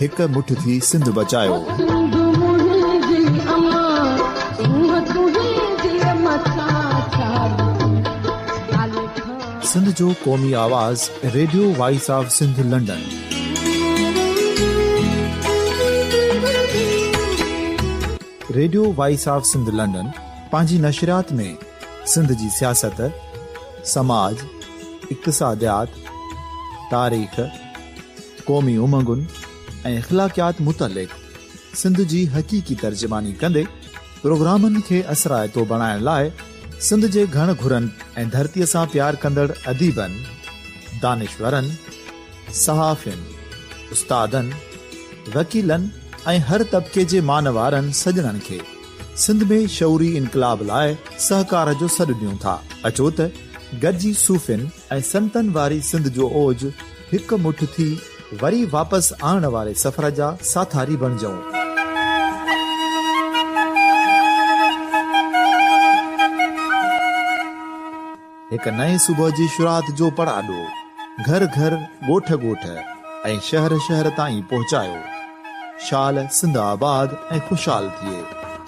هڪ مٺ ٿي سنڌ بچايوسنڌ جو قومي آواز radio voice of Sindh London radio voice of Sindh London پنهنجي نشريات ۾ سنڌ جي سياست سماج اقتصاديات تاريخ قومي امنگن ۽ اخلاقيات متعلق سنڌ جي حقيقي ترجماني ڪندي پروگرامن کي اثرائتو بڻائڻ لاء سنڌ جي گهڻ گهرن ۽ ڌرتي سان پيار ڪندڙ اديبن، دانشورن، صحافين، استادن، وڪيلن ۽ هر طبقي جي مان وارن سڄڻن کي سنڌ ۾ شعوري انقلاب لاء سهڪار جو سڏ ڏيون ٿا. اچو ته گڏجي صوفين، ۽ سنتن واري سنڌ جو اوج هڪ مٺ ٿي وري واپس آڻڻ واري سفر جا ساٿاري بڻجئون. هڪ نئين صبح جي شروعات جو پڙاڏو گهر گهر، ڳوٺ ڳوٺ ۽ شهر شهر تائين پهچايو. شال سنڌ آباد ۽ خوشحال ٿئي.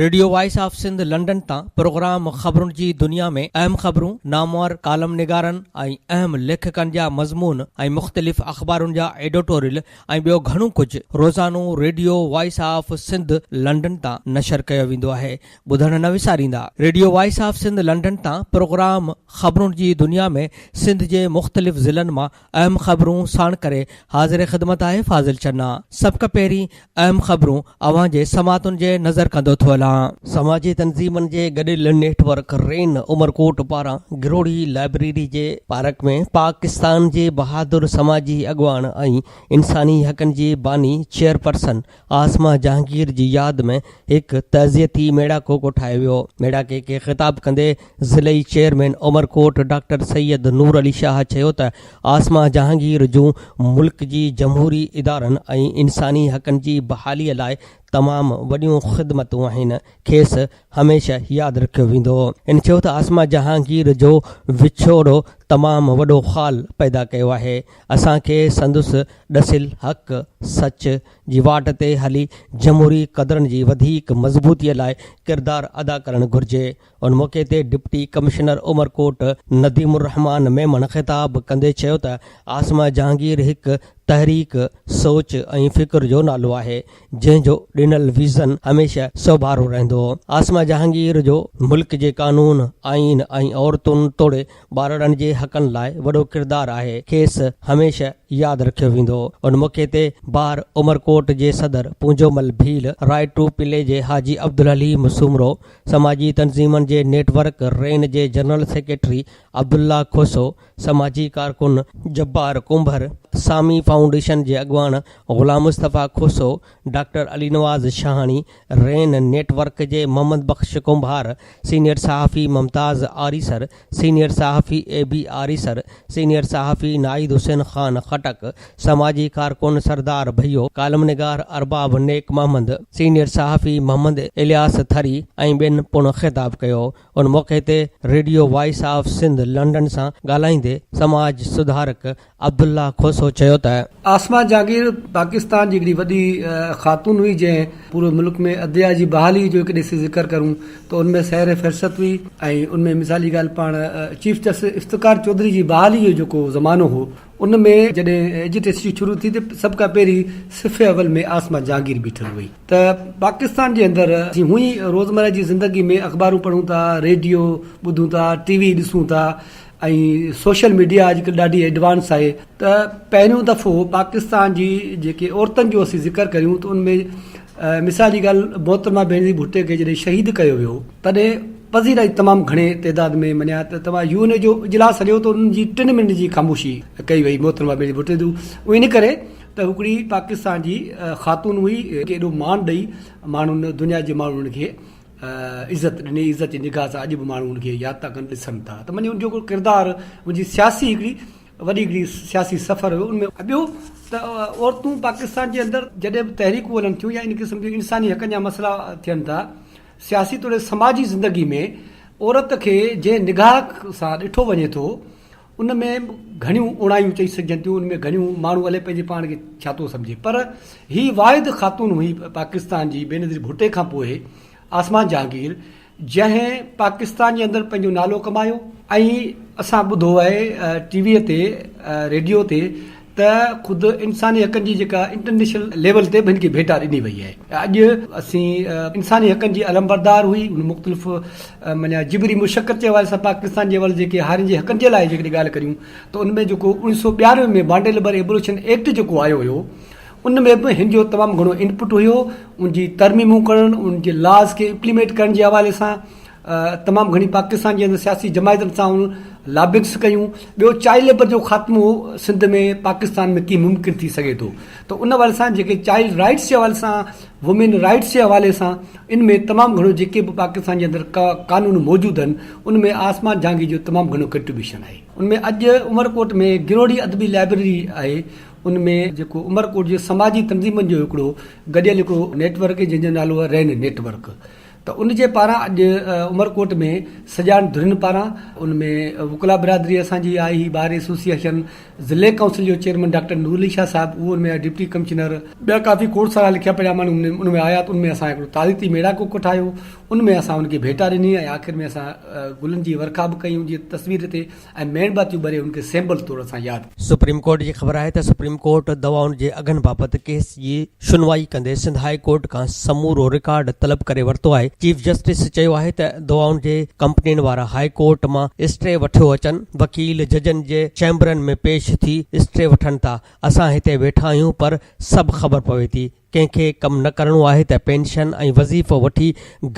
Radio voice of Sindh London تان پروگرام خبرن جي دنيا ۾ اهم خبرون، نامور ڪالم نگارن ۽ اهم ليکڪن جا مضمون ۽ مختلف اخبارن جا ايڊوٽوريل ۽ ٻيو گهڻو ڪجهه روزانو radio voice of Sindh London تان نشر ڪيو ويندو آهي ٻڌڻ نه وساريندا. Radio voice of Sindh London تان پروگرام خبرن جي دنيا ۾ سنڌ جي مختلف ضلعن مان اهم خبرون ساڻ ڪري حاضر خدمت آهي فاضل چنا. سڀ کان پهرين اهم خبرون اوهان جي سماعتن جي نظر ڪندو ٿو هلان. سماجي تنظيمن جي گڏيل نيٽ ورڪ رين عمرڪوٽ پاران گروڙي لائبريري جي پارڪ ۾ پاڪستان جي بهادر سماجي اڳواڻ ۽ انساني حقن جي باني چيئرپرسن عاصمه جهانگير جي ياد ۾ هڪ تعزيتي ميڙاڪو ڪوٺايو ويو، ميڙاڪي کي خطاب ڪندي ضلعي چيئرمين عمرڪوٽ ڊاڪٽر سيد نور علي شاهه چيو ته عاصمه جهانگير جون ملڪ جي جمهوري ادارن ۽ انساني حقن جي بحالي لاء تمام وڏيون خدمتون آهن، کيس هميشه ياد رکيو ويندو. هن چيو ته عاصمه جهانگير جو وڇوڙو تمام وڏو خال پيدا ڪيو آهي، اسان کي سندس ڏسيل حق، سچ، جي واٽ تي هلي جمهوري قدرن جي وڌيڪ مضبوطيء لاء ڪردار ادا ڪرڻ گهرجي. ان موقعي تي ڊپٽي ڪمشنر عمرڪوٽ نديم الرحمان ميمڻ خطاب ڪندي چيو ته عاصمه جهانگير هڪ تحريڪ، سوچ ۽ فڪر جو نالو آهي، جنهن جو ڏنل ويزن هميشه سوڀارو رهندو. عاصمه جهانگير جو ملڪ جي قانون، آئين ۽ عورتن توڙي ٻارڙن جي حقن لاء وڏو ڪردار آهي کيس هميشه ياد رکيو ويندو ان موقعي تي ٻاهر عمرڪوٽ جي صدر Punjomal Bheel, right to play جي حاجي عبدالحليم سومرو، سماجي تنظيمن جي نيٽ ورڪ رين جي جنرل سيڪريٽري عبدالله کوسو، سماجي ڪارڪن، جبار ڪنڀر، سامي فائونڊيشن جي اڳواڻ غلام مصطفيٰ کوسو، ڊاڪٽر علي نواز شاهاڻي، رين نيٽ ورڪ جي محمد بخش ڪنڀار، سينيئر صحافي ممتاز آريسر، سينيئر صحافي اي بي آريسر، سينيئر صحافي ناهيد حسين خان خٽڪ، سماجي ڪارڪن سردار ڀيو، ڪالم نگار ارباب نيڪ محمد، سينيئر صحافي محمد الياس ٿري ۽ ٻين پڻ خطاب ڪيو. ان موقعي تي radio voice of Sindh London سان ڳالهائيندي سماج سڌارڪ عبدالله کوسو چيو ته. عاصمه جھانگير پاڪستان جي ھڪڙي وڏي خاتون ھئي جنھن. پوري ملڪ ۾ عدليا جي بحالي جو ڪڏھن اسين ذڪر ڪرون ته ان ۾ سحر فھرست ھئي ۽ ان ۾ مثال جي ڳالھ پاڻ چيف جسٽس افتخار چوڌري جي بحالي جو جيڪو زمانو ھو ان ۾ جڏھن ايجٽيسٽي شروع ٿي ته سڀ کان پھرين صف اول ۾ عاصمه جھانگير بيٺل ھئي ته پاڪستان جي اندر اسين ھونء ئي روزمره جي زندگي ۾ اخبارون پڙھون ٿا ريڊيو ٻڌون ٿا ٽي وي ڏسون ٿا ۽ سوشل ميڊيا اڄ ڪلهه ڏاڍي ايڊوانس آهي ته پهريون دفعو پاڪستان جي جيڪي عورتن جو اسين ذڪر ڪريون ته ان ۾ مثال جي ڳالهه محترمه بينظير ڀٽي کي جڏهن شهيد ڪيو ويو تڏهن پذيرائي تمام گهڻي تعداد ۾ مڃيا ته توهان يو اين اي جو اجلاس هليو ته ان جي ٽن منٽن جي خاموشي ڪئي وئي محترمه بينظير ڀٽي جو اهو ان ڪري ته هڪڙي پاڪستان جي خاتون هئي ڪي ايڏو مان ڏئي ماڻهن دنيا جي ماڻهن کي عزت ڏني، عزت جي نگاهه سان اڄ به ماڻهو ان کي ياد ٿا ڪن، ڏسن ٿا ته منهنجي ان جو هڪڙو ڪردار، منهنجي سياسي هڪڙي وڏي هڪڙي سياسي سفر هيو ان ۾. ۽ ٻيو ته عورتون پاڪستان جي اندر جڏهن به تحريڪون هلن ٿيون يا ان قسم جي انساني حقن جا مسئلا ٿين ٿا، سياسي توڙي سماجي زندگي ۾ عورت کي جنهن نگاهه سان ڏٺو وڃي ٿو، ان ۾ گهڻيون اوڻايون چئي سگهجن ٿيون، ان ۾ گهڻيون ماڻهو الائي پنهنجي پاڻ کي ڇا ٿو سمجهي پر هي واحد خاتون هئي پاڪستان جي بينظير ڀٽي کان پوء آسمان جهانگير جنهن پاڪستان جي اندر پنهنجو نالو ڪمايو ۽ اسان ٻڌو آهي ٽي ويء تي ريڊيو تي ته خود انساني حقن جي جيڪا انٽرنيشنل ليول تي به هن کي ڀيٽا ڏني وئي آهي اڄ اسين انساني حقن جي علمبردار هئي ان مختلف معنيٰ جبري مشقت جي حوالي سان پاڪستان جي اول جيڪي هارين جي حقن جي لاء جيڪڏهن ڳالهه ڪريون ته ان ۾ جيڪو اوڻيھ سؤ ٻيانوي ۾ بانڊي لبر ايبوليشن ايڪٽ جيڪو آيو هيو ان ۾ به هن جو تمام گهڻو انپٽ هيو ان جي ترميمون ڪرڻ ان جي لاز کي امپليميٽ ڪرڻ جي حوالي سان تمام گهڻي پاڪستان جي اندر سياسي جماعتن سان هن لابنگس ڪيون. ٻيو چائلڊ ليبر جو خاتمو سنڌ ۾ پاڪستان ۾ ڪيئن ممڪن ٿي سگهي ٿو ته ان حوالي سان جيڪي چائلڊ رائيٽس جي حوالي سان وومين رائيٽس جي حوالي سان ان ۾ تمام گهڻو جيڪي به پاڪستان جي اندر قانون موجود آهن ان ۾ آسمان جهانگير جو تمام گهڻو ڪنٽريبيوشن آهي. ان ۾ اڄ عمرڪوٽ ۾ گروڙي ادبي لائبريري آهي ان ۾ جيڪو عمرڪوٽ جي سماجي تنظيمن جو هڪڙو گڏيل هڪڙو نيٽ ورڪ جنهن جو نالو آهي رين نيٽ ورڪ. ته ان جي پاران اڄ عمرڪوٽ ۾ سڄاڻ ڌرين پاران ان ۾ وڪلا برادري اسان جي آهي هي بار ايسوسيئيشن ضلعي ڪائونسل جو چيئرمين ڊاڪٽر نور علي شاهه صاحب اهو ان ۾ ڊپٽي ڪمشنر ٻيا ڪافي کوڙ سارا لکيا پڙهيا ماڻهو ان ۾ آيا ته ان ۾ اسان هڪڙو تاريخي ميڙاڪو ڪوٺايو ان ۾ اسان ان کي ڀيٽا ڏني ۽ آخر ۾ اسان گلن جي ورکا به ڪئي ان جي تصوير تي ۽ ميڻ باتيون ٻري ان کي سيمبل طور سان ياد. سپريم ڪورٽ جي خبر آهي ته سپريم ڪورٽ دوائن جي اگهن بابت ڪيس جي شنوائي ڪندي سنڌ هاء ڪورٽ کان سمورو رڪارڊ طلب ڪري ورتو آهي چيف جسٽس چيو آهي ته دوائن جي ڪمپنين وارا هاء ڪورٽ مان اسٽي وٺيو اچن وڪيل ججن جي چيمبرن ۾ پيش ٿي اسٽي وٺن ٿا اسان هتي ويٺا آهيون پر سڀ خبر پوي ٿي ڪنهن کي ڪم نه ڪرڻو آهي ته پينشن ۽ وظيفو وٺي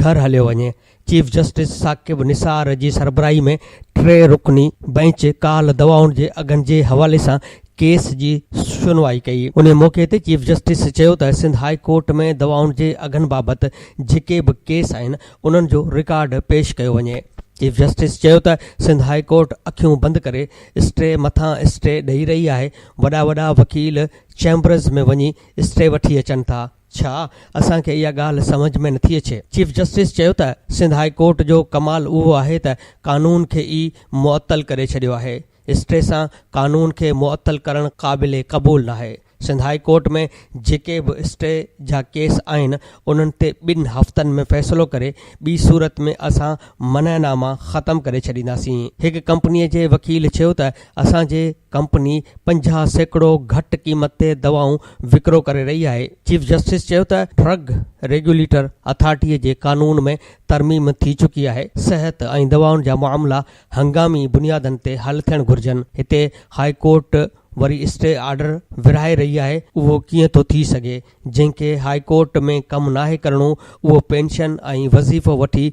گهر هليو وڃي. چيف جسٽس ثاقب نثار جي سربراهي ۾ ٽي رڪني بئنچ ڪالهه دوائن جي اگهن جي حوالي سان ڪيس جي شنوائي ڪئي. انهي موقعي تي چيف جسٽس چيو ته سنڌ هائي ڪورٽ ۾ دوائن جي اگهن بابت جيڪي به ڪيس آهن انهن جو رڪارڊ پيش ڪيو وڃي. چيف جسٽس چيو ته سنڌ هائي ڪورٽ اکيون بند ڪري اسٽي مٿان اسٽي ڏئي رهي آهي، وڏا وڏا وڪيل چيمبرز ۾ وڃي اسٽي وٺي اچن ٿا ڇا؟ اسان کي اها ڳالهه سمجهه ۾ نٿي اچي. چيف جسٽس چيو ته سنڌ هاء ڪورٽ جو ڪمال اهو آهي ته قانون کي ئي معطل ڪري ڇڏيو آهي، اسٽي سان قانون کي معطل ڪرڻ قابل قبول ناهي، سنڌ هاء ڪورٽ ۾ جيڪي به اسٽي جا ڪيس آهن انهن تي ٻن هفتن ۾ فيصلو ڪري ٻي صورت ۾ اسان منع ناما ختم ڪري ڇڏينداسين، هڪ ڪمپني جي وڪيل چيو ته اسان جي ڪمپني پنجاهه سيڪڙو گهٽ قيمت تي دوائون وڪرو ڪري رهي آهي، چيف جسٽس چيو ته ڊرگ ريگيوليٽر اٿارٽي جي قانون ۾ ترميم ٿي چڪي آهي، صحت ۽ دوائن جا معاملا هنگامي بنيادن تي حل ٿيڻ گهرجن، هتي هاء ڪورٽ وري اسٽي آرڊر ورهائي رهي آهي، اهو ڪيئن ٿو ٿي سگهي؟ جنهن کي هاء ڪورٽ ۾ ڪم ناهي ڪرڻو اهو پينشن ۽ وظيفو وٺي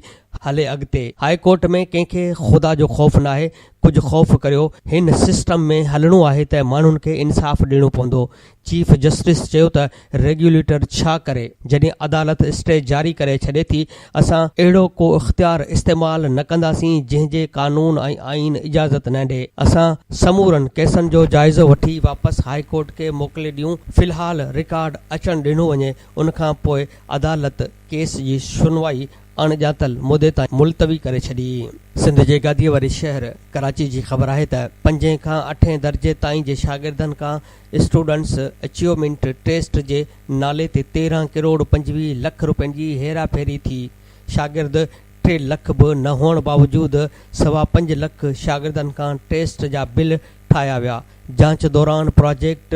هلي اڳتي هاء ڪورٽ ۾ ڪنهن کي خدا جو خوف ناهي ڪجهه خوف ڪريو هن سسٽم ۾ هلڻو آهي ته ماڻهن کي انصاف ڏيڻو پوندو چيف جسٽس چيو ته ريگيوليٽر ڇا ڪري جڏهن عدالت اسٽي جاري ڪري ڇڏي ٿي اسان اهڙو ڪو اختيار استعمال نه ڪنداسين جنهن جي قانون ۽ آئين اجازت نه ڏي. اسان سمورن ڪيسن جو جائزو وٺي واپس هاء ڪورٽ کي موڪلي ڏيون. في الحال رڪارڊ اچڻ ڏنو وڃي ان کان پوء عدالت ڪيس جي شنوائي اڻ ڄاتل مدي تائين ملتوي ڪري ڇڏي. سنڌ جي گاديء واري شهر ڪراچي جي خبر آهي ته پنجين کان اٺين درجي تائين جي شاگردن کان اسٽوڊنٽس اچيومينٽ ٽيسٽ جي نالي تي تيرهن ڪروڙ پنجويهه لک روپين جي هيرا ڦيري ٿي، شاگرد ٽي لک به نه هئڻ باوجود سوا پنج لک شاگردن کان ٽيسٽ جا بل ٺاهيا ويا، جانچ دوران project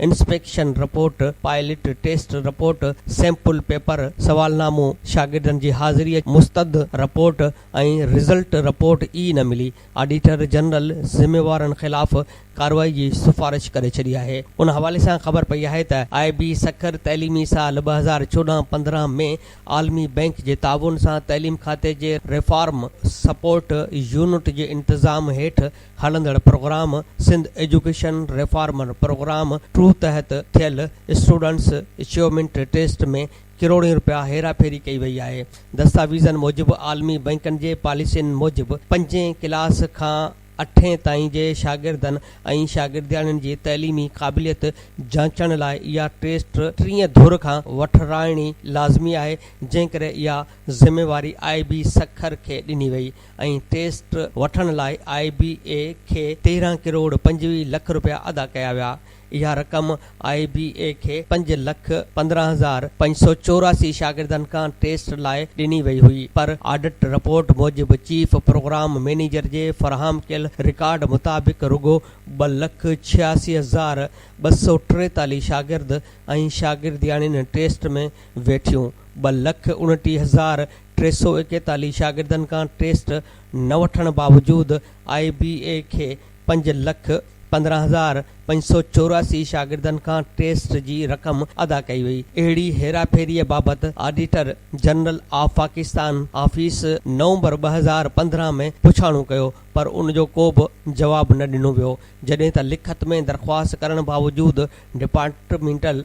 inspection report, pilot test report, sample paper, سوالنامو، شاگردن جي حاضري، مستند رپورٽ ۽ رزلٽ رپورٽ ئي نه ملي، آڊيٽر جنرل ذميوارن خلاف ڪارروائي جي سفارش ڪري ڇڏي آهي. ان حوالي سان خبر پئي آهي ته آء بي سکر تعليمي سال ٻه هزار چوڏهن پندرهن ۾ عالمي بئنڪ جي تعاون سان تعليم کاتي جي ريفارم سپورٽ يونٽ جي انتظام هيٺ هلندڙ programme Sindh education reformer programme two تحت ٿيل اسٽوڊنٽس اچيومينٽ ٽيسٽ ۾ ڪروڙين رپيا هيراڦيري ڪئي وئي آهي دستاويزن موجب عالمي بئنڪن جي پاليسين موجب پنجين ڪلاس کان اٺين تائين جي شاگردن ۽ شاگردياڻين جي تعليمي قابليت جانچڻ لاء اها ٽيسٽ ٽئين ڌر کان وٺرائڻي لازمي آهي، جنهن ڪري اها ذميواري آء بي سکر کي ڏني وئي ۽ ٽيسٽ وٺڻ لاء آء بي اي کي تيرهن ڪروڙ پنجويهه لک رپيا ادا ڪيا ويا. اها رقم آء بي اي کي پنج لک پندرهن هزار پنج سؤ چوراسي شاگردن کان ٽيسٽ لاء ڏني وئي هئي پر آڊٽ رپورٽ موجب چيف پروگرام مئنيجر جي فراهم ڪيل رڪارڊ مطابق رڳو ٻه لک ڇياسي هزار ٻه سؤ ٽيتاليهه شاگرد ۽ شاگردياڻين ٽيسٽ ۾ ويٺيون ٻه لک اڻٽيهه هزار ٽي سؤ ايڪيتاليهه شاگردن کان ٽيسٽ نه وٺڻ باوجود آء بي اي کي پنج لک پندرهن هزار پنج سؤ چوراسي شاگردن کان ٽيسٽ جي رقم ادا ڪئي وئي، اهڙي هيراڦيريء بابت auditor general of Pakistan office نومبر ٻه هزار پندرهن ۾ پڇاڻو ڪيو پر ان جو ڪو به جواب نه ڏنو ويو، جڏهن ته لکت ۾ درخواست ڪرڻ باوجود ڊپارٽمينٽل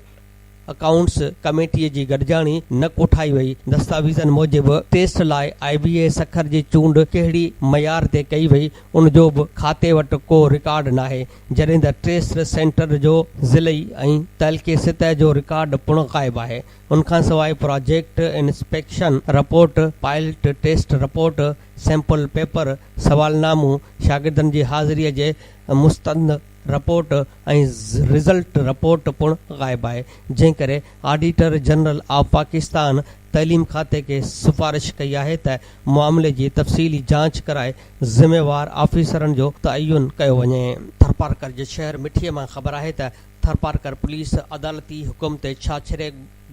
اڪائونٽس ڪميٽي جي گڏجاڻي نه ڪوٺائي وئي، دستاويزن موجب ٽيسٽ لاء آء بي اي سکر جي چونڊ ڪهڙي معيار تي ڪئي وئي ان جو به کاتي وٽ ڪو رڪارڊ ناهي جڏهن ته ٽيسٽ سينٽر جو ضلعي ۽ تعلقي سطح جو رڪارڊ پڻ غائب آهي ان کان سواء project inspection report, pilot test report, sample paper, سوالنامو، شاگردن جي حاضري جي مستند. رپورٽ ۽ رزلٽ رپورٽ پڻ غائب آهي، جنهن ڪري آڊيٽر جنرل آف پاڪستان تعليم کاتي کي سفارش ڪئي آهي ته معاملي جي تفصيلي جاچ ڪرائي ذميوار آفيسرن جو تعين ڪيو وڃي. ٿرپارڪر جي شهر مٺي مان خبر آهي ته ٿرپارڪر پوليس عدالتي حڪم تي ڇاڇري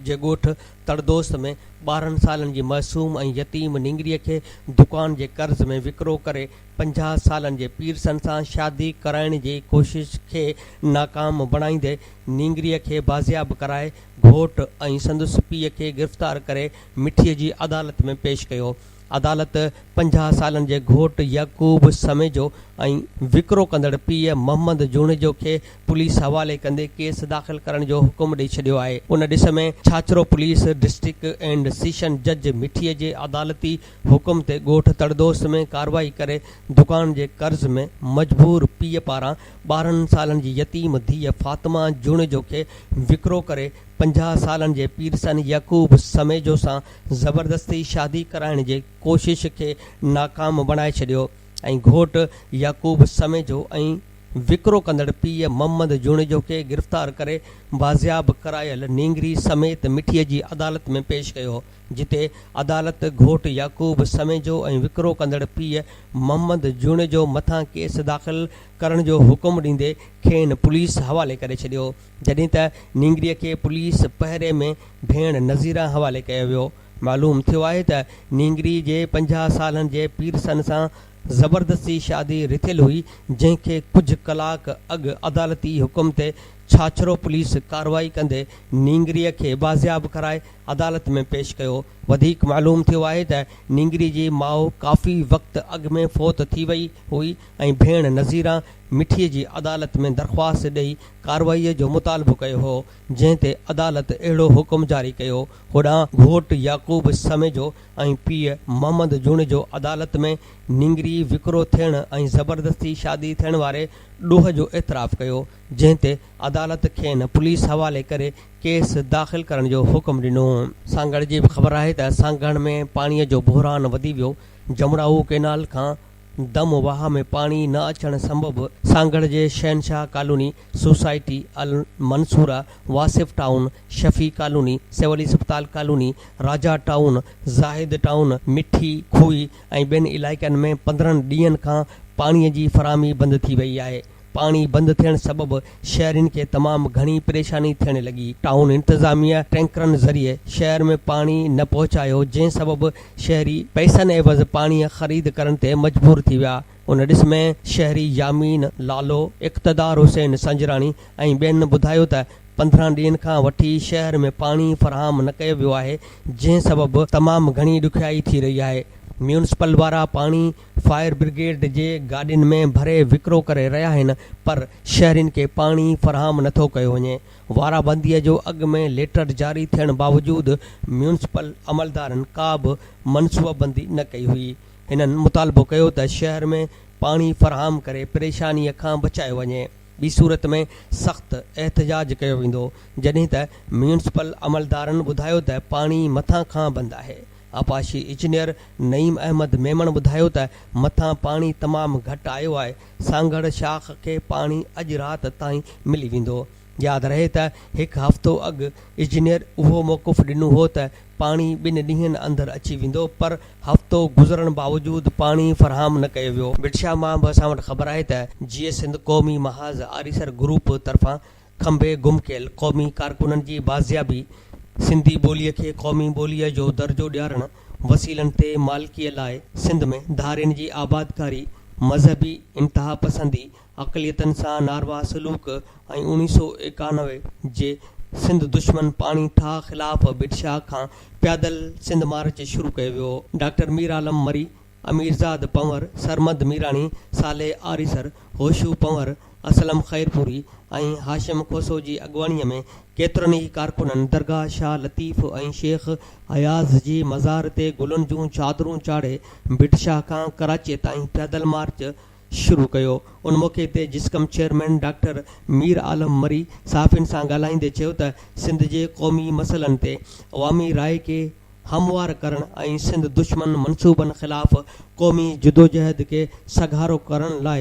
جي ڳوٺ تڙدوست ۾ ٻارهن سالن جي معصوم ۽ يتيم نينگريء کي دڪان جي قرض ۾ وڪرو ڪري پنجاهه سالن جي پيرسن سان شادي ڪرائڻ جي ڪوشش کي ناڪام بڻائيندي نينگريء کي بازياب ڪرائي گهوٽ ۽ سندس پيء کي گرفتار ڪري مٺيء جي عدالت ۾ پيش ڪيو. عدالت پنجاهه سالن جي گهوٽ يعقوب سميجو ۽ وڪرو ڪندڙ پيء محمد جوڻيجو کي پوليس حوالي ڪندي ڪيس داخل ڪرڻ جو حڪم ڏئي ڇڏيو آهي. ان ڏس ۾ Chachro police district and session جج مٺيء جي عدالتي حڪم تي ڳوٺ تڙدوست ۾ ڪارروائي ڪري دڪان جي قرض ۾ مجبور پيء پاران ٻارهن سالن جي يتيم ڌيء فاطمه جوڻيجو کي وڪرو ڪري پنجاهه سالن جي پيرسن يعقوب سميجو سان زبردستي شادي ڪرائڻ جي ڪوشش کي ناڪام بڻائي ڇڏيو ۽ گهوٽ يعقوب سميجو ۽ وڪرو ڪندڙ پيء محمد جوڻيجو کي گرفتار ڪري بازياب ڪرايل نينگري سميت مٺي جي عدالت ۾ پيش ڪيو. جتي عدالت گهوٽ يعقوب سميجو ۽ وڪرو ڪندڙ پيء محمد جوڻيجو مٿان ڪيس داخل ڪرڻ جو حڪم ڏيندي کين پوليس حوالي ڪري ڇڏيو جڏهن ته نينگري کي پوليس پهري ۾ ڀيڻ نظيره حوالي ڪيو ويو معلوم ٿيو آهي ته نينگري جي پنجاهه سالن جي پيرسن سان زبردستي شادي رٿيل هئي جنهن کي ڪجهه ڪلاڪ اڳ عدالتي حڪم تي ڇاڇرو پوليس ڪارروائي ڪندي نينگري کي بازياب ڪرائي عدالت ۾ پيش ڪيو. وڌيڪ معلوم ٿيو آهي ته نينگري جي ماء ڪافي وقت اڳ ۾ فوت ٿي وئي هئي ۽ ڀيڻ نظيره مٺي جي عدالت ۾ درخواست ڏئي ڪارروائي جو مطالبو ڪيو هو جنهن تي عدالت اهڙو حڪم جاري ڪيو هوڏانهن گهوٽ يعقوب سميجو ۽ پيء محمد جوڻيجو عدالت ۾ نينگري وڪرو ٿيڻ ۽ زبردستي شادي ٿيڻ واري ڏوهه جو اعتراف ڪيو جنهن تي عدالت کين پوليس حوالي ڪري ڪيس داخل ڪرڻ جو حڪم ڏنو. سانگهڙ جي به خبر آهي ته سانگهڙ ۾ پاڻي جو بحران وڌي ويو، جمڙائو ڪئنال کان دم واهه ۾ پاڻي نه اچڻ سبب سانگهڙ جي Shahenshah colony, society Almansoora, Wasif town, Shafi colony, civil اسپتال colony, Raja town, Zahid town, Mithi کوهي ۽ ٻين علائقن ۾ پندرهن ڏينهن کان پاڻي جي فراهمي بند ٿي وئي آهي. پاڻي بند ٿيڻ سبب شهرين کي تمام گهڻي پريشاني ٿيڻ لڳي، ٽائون انتظاميه ٽينڪرن ذريعي شهر ۾ پاڻي نه پهچايو جنهن سبب شهري پئسن عيوض پاڻي خريد ڪرڻ تي مجبور ٿي ويا، ان ڏس ۾ شهري يامين لالو، اقتدار حسين سنجراڻي ۽ ٻين ٻڌايو ته پندرهن ڏينهن کان وٺي شهر ۾ پاڻي فراهم نه ڪيو ويو آهي جنهن سبب تمام گهڻي ڏکيائي ٿي رهي آهي، ميونسپل وارا پاڻي فائر برگيڊ جي گاڏين ۾ ڀري وڪرو ڪري رهيا آهن پر شهرين کي پاڻي فراهم نٿو ڪيو وڃي، وارابنديء جو اڳ ۾ ليٽر جاري ٿيڻ باوجود ميونسپل عملدارن ڪا به منصوبابندي نه ڪئي هئي، هنن مطالبو ڪيو ته شهر ۾ پاڻي فراهم ڪري پريشانيء کان بچايو وڃي ٻي صورت ۾ سخت احتجاج ڪيو ويندو جڏهن ته ميونسپل عملدارن ٻڌايو ته پاڻي مٿان کان بند آهي. آبپاشي اجنيئر نعيم احمد ميمڻ ٻڌايو ته مٿان پاڻي تمام گهٽ آيو آهي، سانگهڙ شاخ کي پاڻي اڄ رات تائين ملي ويندو. ياد رهي ته هڪ هفتو اڳ اجنيئر اهو موقف ڏنو هو ته پاڻي ٻن ڏينهن اندر اچي ويندو پر هفتو گذرڻ باوجود پاڻي فراهم نه ڪيو ويو. بڊشاهه مان به اسان وٽ خبر آهي ته جيئي سنڌ قومي محاذ آريسر گروپ طرفان کنڀي گم ڪيل قومي ڪارڪنن جي بازيابي، سنڌي ٻوليء کي قومي ٻوليء جو درجو ڏيارڻ، وسيلن تي مالڪيء لاء سنڌ ۾ ڌارين جي آبادڪاري، مذهبي انتهاپسندي، اقليتن سان ناروا سلوڪ ۽ اوڻيھ سؤ ايڪانوي جي سنڌ دشمن پاڻي ٺاهه خلاف بڊشاهه کان پيادل سنڌ مارچ شروع ڪيو ويو. ڊاڪٽر ميرعالم مري اميرزاد پنور، سرمد ميراڻي، صالح آريسر، هوشو پنور، اسلم خيرپوري ۽ هاشم کوسو جي اڳواڻيء ۾ ڪيترن ئي ڪارڪنن درگاهه شاهه لطيف ۽ شيخ اياز جي مزار تي گلن جون چادرون چاڙهي ڀٽ شاهه کان ڪراچيء تائين پيادل مارچ شروع ڪيو. ان موقعي تي جسقم چيئرمين ڊاڪٽر مير عالم مري صحافين سان ڳالهائيندي چيو ته سنڌ جي قومي مسئلن تي عوامي راء کي هموار ڪرڻ ۽ سنڌ دشمن منصوبن خلاف قومي جدوجهد کي سگهارو ڪرڻ لاء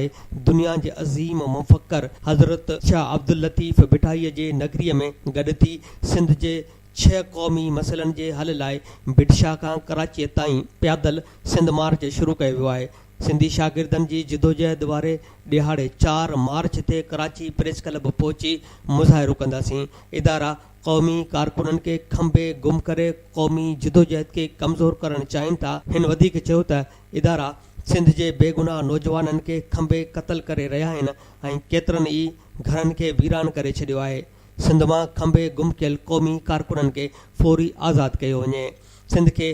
دنيا جي عظيم مفڪر حضرت شاهه عبداللطيف ڀٽائيء جي نگريء ۾ گڏ ٿي سنڌ جي ڇهه قومي مسئلن جي حل لاء ڀٽشاهه کان ڪراچيء تائين پيادل سنڌ مارچ شروع ڪيو ويو آهي. سنڌي شاگردن جي جدوجهد واري ڏهاڙي چار مارچ تي ڪراچي پريس ڪلب پهچي مظاهرو ڪنداسين، ادارا، قومي ڪارڪنن کي کنڀي گم ڪري قومي جدوجهد کي ڪمزور ڪرڻ چاهين ٿا، هن وڌيڪ چيو ته ادارا سنڌ جي بيگناهه نوجوانن کي کنڀي قتل ڪري رهيا آهن ۽ ڪيترن ئي گهرن کي ويران ڪري ڇڏيو آهي، سنڌ مان کنڀي گم ڪيل قومي ڪارڪنن کي فوري آزاد ڪيو وڃي، سنڌ کي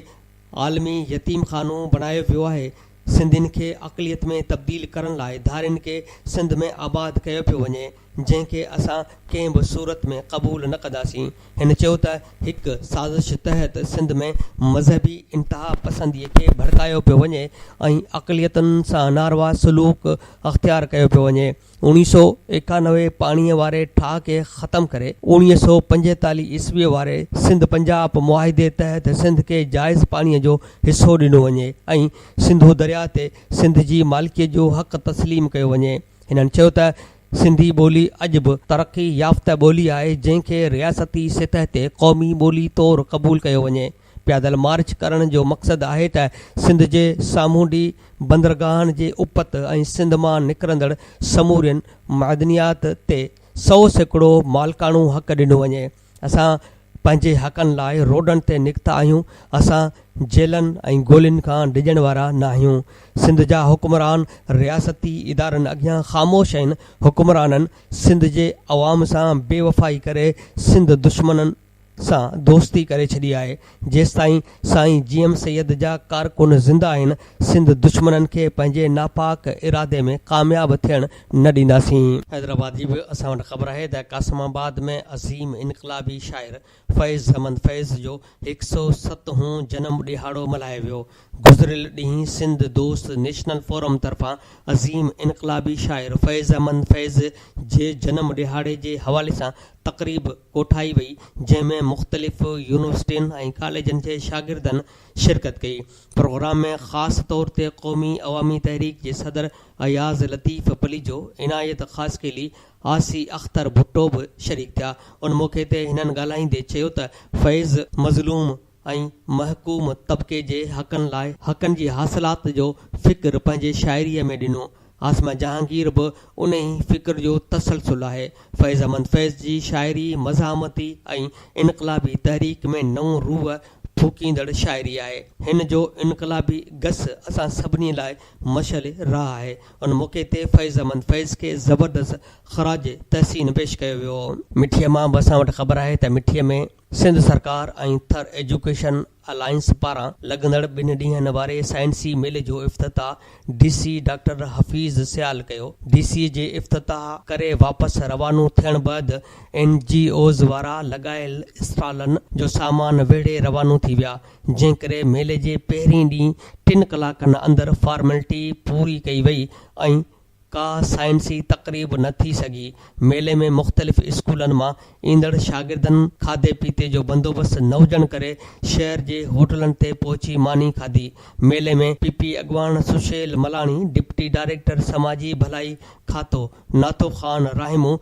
عالمي يتيم خانو بڻايو ويو آهي، سنڌين کي اقليت ۾ تبديل ڪرڻ لاء ڌارين کي سنڌ ۾ آباد ڪيو پيو وڃي جنهن کي اسان ڪنهن به صورت ۾ قبول نه ڪنداسين. هن چيو ته هڪ سازش تحت سنڌ ۾ مذهبي انتهاپسندي کي ڀڙڪايو پيو وڃي ۽ اقليتن سان ناروا سلوڪ اختيار ڪيو پيو وڃي. اوڻيهه سؤ ايڪانوي پاڻيء واري ٺاهه کي ختم ڪري، اوڻيهه سؤ پنجيتاليهه عيسويء واري سنڌ پنجاب معاهدي تحت سنڌ کي جائز پاڻيء جو حصو ڏنو وڃي ۽ سنڌو درياهه تي سنڌ جي مالڪيت جو حق تسليم ڪيو وڃي. هنن چيو ته سنڌي ٻولي اڄ به ترقي يافته ٻولي آهي، جنهن کي رياستي سطح تي قومي ٻولي طور قبول ڪيو وڃي. پيادل مارچ ڪرڻ جو مقصد آهي ته سنڌ جي سامونڊي بندرگاهن جي اپت ۽ سنڌ مان نڪرندڙ سمورين معدنيات تي سؤ سيڪڙو مالڪاڻو حق ڏنو وڃي. اسان پنهنجي حقن لاء روڊن تي نڪتا آهيون، اسان جيلن ۽ گولين کان ڊڄڻ وارا ناهيون. سنڌ جا حڪمران رياستي ادارن اڳيان خاموش آهن، حڪمرانن سنڌ جي عوام سان بي وفائي ڪري سنڌ دشمنن، سان دوستي ڪري ڇڏي آهي جيستائين سائين جي ايم سيد جا ڪارڪن زنده آهن سنڌ دشمنن کي پنهنجي ناپاڪ ارادي ۾ ڪامياب ٿيڻ نه ڏينداسين. حيدرآباد جي به اسان وٽ خبر آهي ته قاسم آباد ۾ عظيم انقلابي شاعر فيض احمد فيض جو هڪ سئو ست هون جنم ڏهاڙو ملهايو ويو گذريل ڏينهن سنڌ دوست نيشنل فورم طرفان عظيم انقلابي شاعر فيض احمد فيض جي جنم ڏهاڙي جي حوالي سان تقريب ڪوٺائي وئي، جنهن ۾ مختلف يونيورسٽين ۽ ڪاليجن جي شاگردن شرڪت ڪئي. پروگرام ۾ خاص طور تي قومي عوامي تحريڪ جي صدر اياز لطيف پليجو، عنايت خاصخيلي، آسي اختر ڀٽو به شريڪ ٿيا. ان موقعي تي هنن ڳالهائيندي چيو ته فيض، مظلوم، ۽ محڪوم طبقي جي حقن لاء حقن جي حاصلات جو فڪر پنهنجي شاعريء ۾ ڏنو. عاصمه جهانگير به انهي فڪر جو تسلسل آهي. فيض احمد فيض جي شاعري مزاحمتي ۽ انقلابي تحريڪ ۾ نئون روح ڦوڪيندڙ شاعري آهي. هن جو انقلابي گس اسان سڀني لاء مشعل راهه آهي. ان موقعي تي فيض احمد فيض کي زبردست خراج تحسين پيش ڪيو ويو. مٺيء مان به اسان وٽ خبر آهي ته مٺيء ۾ سنڌ سرڪار ۽ ٿر ايجوڪيشن الائنس پاران لڳندڙ ٻن ڏينهن واري سائنسي ميلي جو افتتاح D C doctor Hafeez Sial ڪيو. ڊي سي جي افتتاح ڪري واپس روانو ٿيڻ بعد اين جي اوز وارا لڳايل اسٽالن جو سامان ويڙهي روانو ٿي ويا، جنهن ڪري ميلي جي پهرين ڏينهن ٽن ڪلاڪن اندر فارملٽي پوري ڪئي وئي ۽ ڪا سائنسي تقريب نه ٿي سگهي، ميلي ۾ مختلف اسڪولن مان ايندڙ شاگردن کاڌي پيتي جو بندوبست نه هجڻ ڪري شهر جي هوٽلن تي پهچي ماني کاڌي، ميلي ۾ پ پ اڳواڻ سشيل ملاڻي، ڊپٽي ڊائريڪٽر سماجي ڀلائي کاتو Natho Khan Rahimo,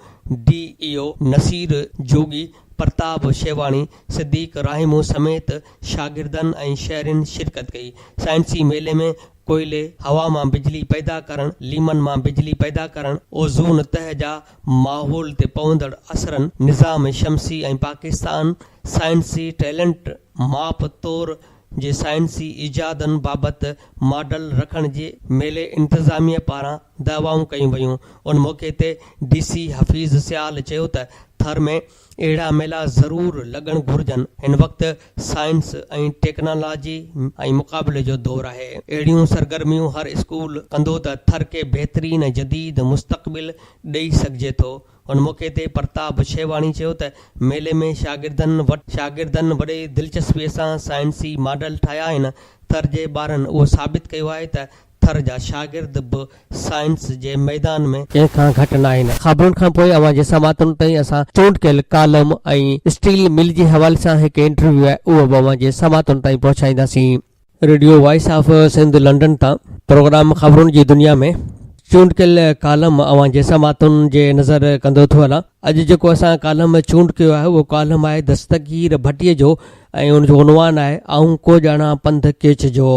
D E O Naseer Jogi, Partab Shewani, صديق راهيمو سميت شاگردن ۽ شهرين شرڪت ڪئي، سائنسي ميلي ۾ ڪوئلي، هوا مان بجلي پيدا ڪرڻ، ليمن مان بجلي پيدا ڪرڻ، اوزون تهه جا ماحول تي پوندڙ اثرن، نظام شمسي ۽ پاڪستان سائنسي ٽيلنٽ ماپ تور جي سائنسي ايجادن بابت ماڊل رکڻ جي ميلي انتظاميه پاران دعوائون ڪيون ويون ان موقعي تي ڊي سي حفيظ سيال چيو ته ٿر ۾ اهڙا ميلا ضرور لڳڻ گهرجن، هن وقت سائنس ۽ ٽيڪنالاجي ۽ مقابلي جو دور آهي، اهڙيون سرگرميون هر اسڪول ڪندو ته ٿر کي بهترين ۽ جديد مستقبل ڏئي سگهجي ٿو، ان موقعي تي پرتاب شيواني چيو ته ميلي ۾ شاگردن شاگردن وڏي دلچسپي سان سائنسي ماڊل ٺاهيا آهن، ٿر جي ٻارن اهو ثابت ڪيو آهي ته ٿر جا شاگرد به سائنس جي ميدان ۾. ڪنهن کان گهٽ ناهن. خبرن کان پوء اوهان جي سماعتن تائين اسان چونڊ ڪيل ڪالم ۽ اسٽيل مل جي حوالي سان هڪ انٽرويو آهي اهو به اوهان جي سماعتن تائين پهچائينداسين. Radio voice of Sindh London تان پروگرام خبرن جي دنيا ۾ چونڊ ڪيل ڪالم اوهان جي سماعتن جي نظر ڪندو ٿو هلان. اڄ جيڪو اسان ڪالم چونڊ ڪيو آهي اهو ڪالم آهي دستگير ڀٽي جو ۽ ان جو عنوان آهي آئون ڪو ڄاڻان پنڌ ڪيڇ جو.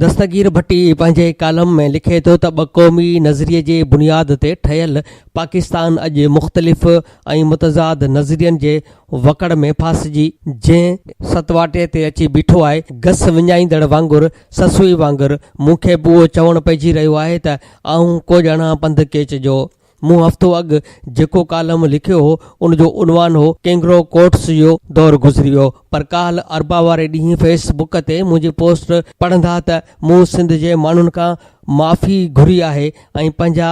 دستگير ڀٽي پنهنجي ڪالم ۾ لکي ٿو ته ٻه قومي نظريي جي بنياد تي ٺهيل پاڪستان اڄ مختلف ۽ متضاد نظرين جي وڪڙ ۾ ڦاسجي جنهن ستواٽي تي اچي بيٺو آهي گس وڃائيندڙ وانگر سسئي وانگر مون کي به اهو چوڻ پئجي رهيو آهي ته آئون ڪو ڄاڻان پنڌ ڪيچ جو مون هفتو اڳ جيڪو ڪالم لکيو هو ان جو عنوان هو ڪينگرو ڪورٽس جو دور گذري ويو پر ڪالهه اربع واري ڏينهن فيس بڪ تي منهنجي پوسٽ پڙهندا ته مون سنڌ جي ماڻهن کان معافي گهري آهي ۽ پنهنجا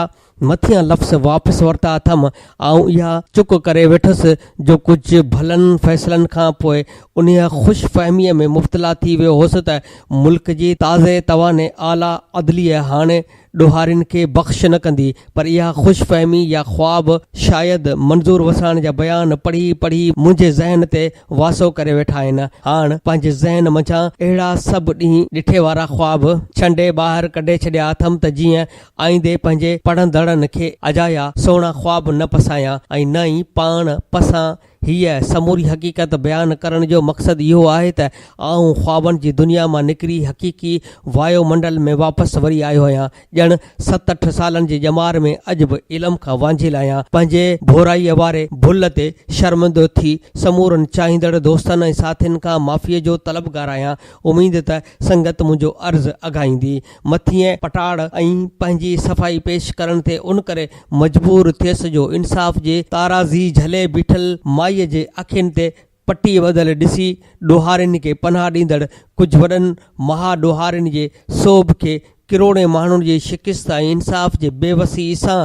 مٿيان لفظ واپس ورتا اٿم آئون اها چڪ ڪري ويٺس جو ڪجهه ڀلن فيصلن کان پوء انهيء خوش فهميء ۾ مبتلا ٿي ويو هوس ته ملڪ جي تازي تواني اعليٰ عدليه هاڻي ڏوهارين کي بخش نه ڪندي، پر اها خوش فهمي يا خواب شايد منظور وساڻ جا بيان پڙهي پڙهي منهنجي ذهن تي واسو ڪري ويٺا آهن. هاڻ پنهنجي ذهن منجهان اهڙا سڀ ڏينهن ڏٺي وارا خواب ڇنڊي ٻاهر ڪڍي ڇڏيا اٿم ته جيئن آئيندي پنهنجي پڙهندڙن کي اجايا سهڻا خواب نه پسايان ۽ نه ئي پاڻ پسان هيء سموري حقيقت بيان ڪرڻ جو مقصد اهو آهي ته آئون خوابن جي دنيا مان نڪري حقيقي وايو منڊل ۾ واپس وري آيو آهيان. ڄڻ ست اٺ سالن جي ڄمار ۾ اڄ به علم کان وانجهيل آهيان. پنهنجي ڀورائيء واري ڀل تي شرمندو ٿي سمورن چاهيندڙ دوستن ۽ ساٿين کان معافيء جو طلبگار آهيان. اميد ته سنگت منهنجو عرض اگهائيندي. مٿينء پٽاڙ ۽ پنهنجي صفائي پيش ڪرڻ تي ان ڪري مجبور ٿيس جو انصاف جي تارازي جهلي بيٺل مائيء جي اکين تي پٽيء ٻڌل ڏسي ڏوهارين کي پناهه ڏيندڙ ڪجهه وڏن مها ڏوهارين جي سوڀ کي ڪروڙين ماڻهن جي شڪست ۽ انصاف جي بي وسيء سان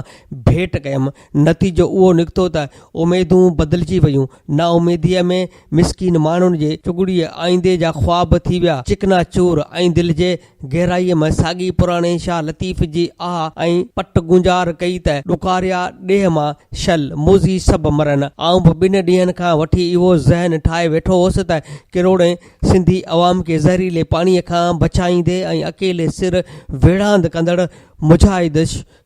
ڀيٽ ڪيم نتيجو اهو نڪتو ته اميدون بدلجي ويون نااميديء ۾ مسڪين ماڻهن جي چگڙيء آئيندي جا خواب ٿي ويا چڪنا چور ۽ دل جي گهرائيء ۾ ساڳي پراڻي شاهه لطيف جي آه ۽ پٽ گونجار ڪئي ته ڏکاريا ڏيهه مان شل، موذي سڀ مرن. آئون به ٻن ڏينهن کان وٺي اهو ذهن ٺاهي ويٺو هوس ته ڪروڙين سنڌي عوام کي زهريلي پاڻيء کان بچائيندي ۽ اڪيلي سر ويڙهاند ڪندڙ مجاهد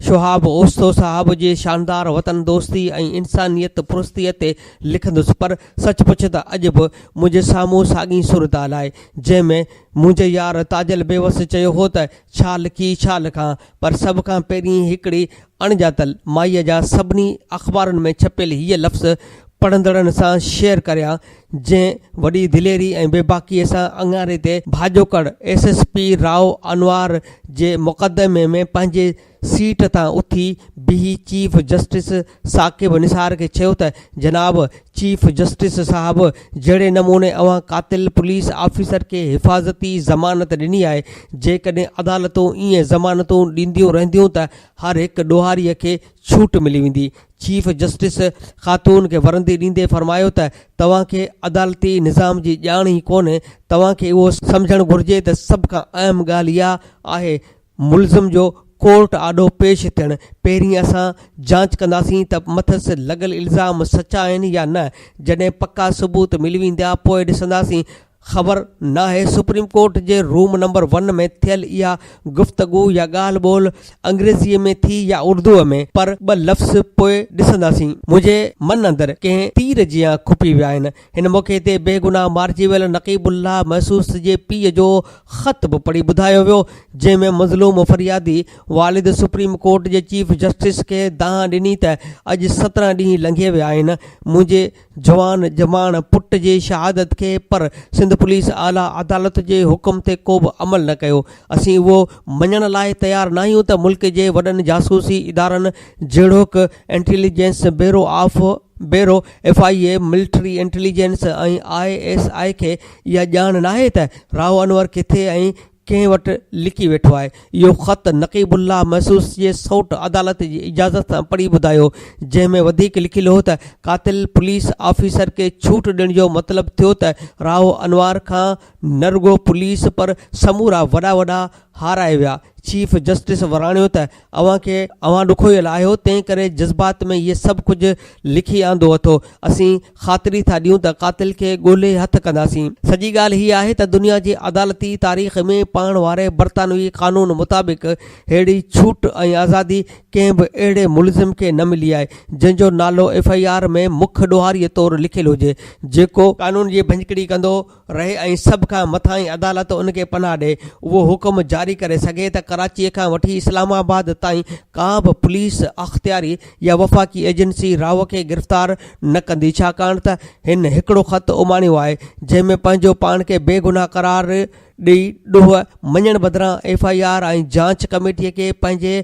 شهاب اوستو صاحب جي شاندار وطن دوستي ۽ انسانيت پرستيء تي لکندس پر سچ پچ ته اڄ به منهنجي سامهون ساڳي صورتحال آهي جنهن ۾ منهنجي يار تاجل بيوس چيو هو ته ڇا لکي ڇا لکان پر سڀ کان پهرين هڪڙي اڻڄاتل مائيء جا سڀني اخبارن ۾ ڇپيل هيء لفظ پڙهندڙن سان شيئر ڪريان جنهن وڏي دليري ۽ بيباڪيء سان اڱاري تي ڀاڄوڪڙ S S P Rao Anwar جي مقدمي ۾ پنهنجي سيٽ تان اٿي بيهي چيف جسٽس ثاقب نثار کي چيو ته جناب چيف جسٽس صاحب جهڙي نموني اوهان قاتل پوليس آفيسر کي حفاظتي ضمانت ڏني آهي جيڪڏهن عدالتون ائين ضمانتون ڏينديون رهنديون ته هر هڪ ڏوهاري کي ڇوٽ ملي ويندي چيف جسٽس خاتون کي ورندي ڏيندي فرمايو ته توهان کي عدالتي نظام جي ڄاڻ ئي ڪونهي، توهان کي اهو سمجهڻ گهرجي ته سڀ کان اهم ڳالهه اها آهي ملزم جو ڪورٽ آڏو پيش ٿيڻ، پهرين اسان جانچ ڪنداسين ته مٿس لڳل الزام سچا آهن يا نه، جڏهن پڪا ثبوت ملي ويندا پوء ڏسنداسين، خبر ناهي سپريم ڪورٽ جي روم نمبر ون ۾ ٿيل اها گفتگو يا ڳالهه ٻولهه انگريزيء ۾ ٿي يا اردوء ۾ پر ٻه لفظ پوء ڏسنداسين. منهنجي من اندر ڪنهن تير جيان کپي ويا آهن. هن موقعي تي بيگناهه مارجي ويل نقيب الله محسوس جي پيء جو خط به پڙهي ٻڌايو ويو، جنهن ۾ مظلوم فريادي والد سپريم ڪورٽ جي چيف جسٽس کي دانهن ڏني ته اڄ سترهن ڏينهن لنگهي ويا آهن، منهنجي جوان ڄماڻ پٽ جي شهادت کي پر سنڌ پوليس اعليٰ عدالت جي حڪم تي ڪوبه عمل نه ڪيو اسين اهو مڃڻ لاء تيار ناهيون ته ملڪ جي وڏن جاسوسي ادارن جهڙوڪ intelligence bureau of bureau F I A military intelligence ۽ I S I کي اها ڄاڻ ناهي ته راهو انور ڪٿي ۽ ڪنهن وٽ لڪي ويٺو آهي. اهو خط نقيب الله محسوس جي سئوٽ عدالت جي اجازت سان پڙهي ٻڌايو، جنهن ۾ وڌيڪ لکيل هو ته قاتل پوليس آفيسر کي ڇوٽ ڏيڻ جو مطلب ٿيو ته راهو انوار کان نه رڳو پوليس پر سمورا وڏا وڏا هارائي ويا. چيف جسٽس وراڻيو ته اوهان کي اوهان ڏکويل آهيو تنهن ڪري جذبات ۾ هي سڀ ڪجهه لکي آندو اٿو. اسين خاطري ٿا ڏيون ته قاتل کي ڳولي هٿ ڪنداسين. سڄي ڳالهه هي آهي ته دنيا جي عدالتي تاريخ ۾ پاڻ واري برطانوي قانون مطابق ههڙي ڇوٽ ۽ آزادي ڪنهن به اهڙي ملزم کي نه ملي آهي جنهن جو نالو ايف آء آر ۾ مک ڏوهاري طور لکيل هجي جيڪو قانون جي ڀڃڪڙي ڪندو رهي ۽ سڀ کان مٿانهين عدالت ان کي پناهه ڏئي اهو حڪم جاري ڪري سگهي ته ڪراچيء کان وٺي اسلام آباد تائين ڪا به پوليس اختياري يا وفاقي ايجنسي راهو کي گرفتار نه ڪندي ڇاڪاڻ ته هن هڪڙو خط اماڻيو آهي جنهن ۾ پنهنجو پاڻ کي بي گناهه قرار ڏئي ڏوهه مڃڻ بدران ايف آء آر ۽ جانچ ڪميٽيء کي پنهنجي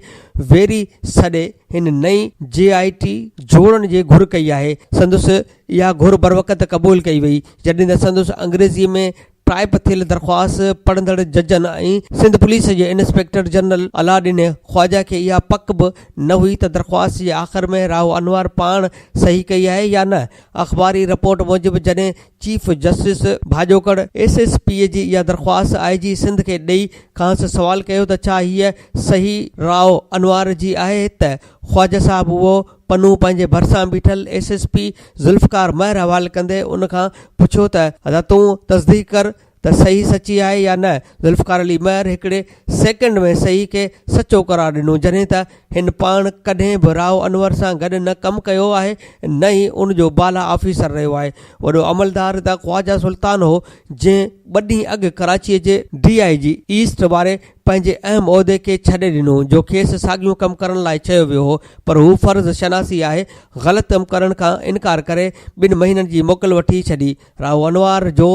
ويري سڏي هن نئين جي آء ٽي جوڙڻ جي گهر ڪئي آهي سندس اها گهر بروقت قبول ڪئي وئي، جڏهن ته سندس انگريزيء ۾ ٽائيپ ٿيل درخواست پڙهندڙ ججن ۽ سنڌ پوليس جي انسپيڪٽر جنرل علاءالڏين خواجه کي اها پڪ به نه هئي ته درخواست جي آخر ۾ راهو انوار پاڻ صحيح ڪئي آهي يا نه. اخباري رپورٽ موجب جڏهن چيف جسٽس ڀاڄوڪڙ ايس ايس پيء جي اها درخواست آء جي سنڌ کي ڏئي کانئس سوال ڪيو ته ڇا هيء صحيح راء انوار جي آهي ته خواجه صاحب اهو پنهون پنهنجي ڀرسان بيٺل S S P Zulfiqar Mehar حوالي ڪندي ان کان پڇيو ته حضرت تون تصديق ڪر ته صحيح سچي آهي يا نه ذوالفقار علي مهر هڪڙي سيڪنڊ ۾ صحيح کي سچو قرار ڏنو جڏهن ته هن پاڻ ڪڏهن به راء انور سان گڏ نه ڪم ڪيو آهي نه ئي ان جو بالا آفيسر رهيو آهي وڏو عملدار ته خواجه سلطان هو جنهن ٻه ڏينهن اڳ ڪراچي جي ڊي آء جي ايسٽ واري پنهنجي اهم عهدي کي ڇڏي ڏنو جو کيس ساڳيو ڪم ڪرڻ لاء چيو ويو هو پر هو فرض شناسي آهي غلط ڪم ڪرڻ کان انڪار ڪري ٻن مهينن جي موڪل وٺي ڇڏي راهو انوار جو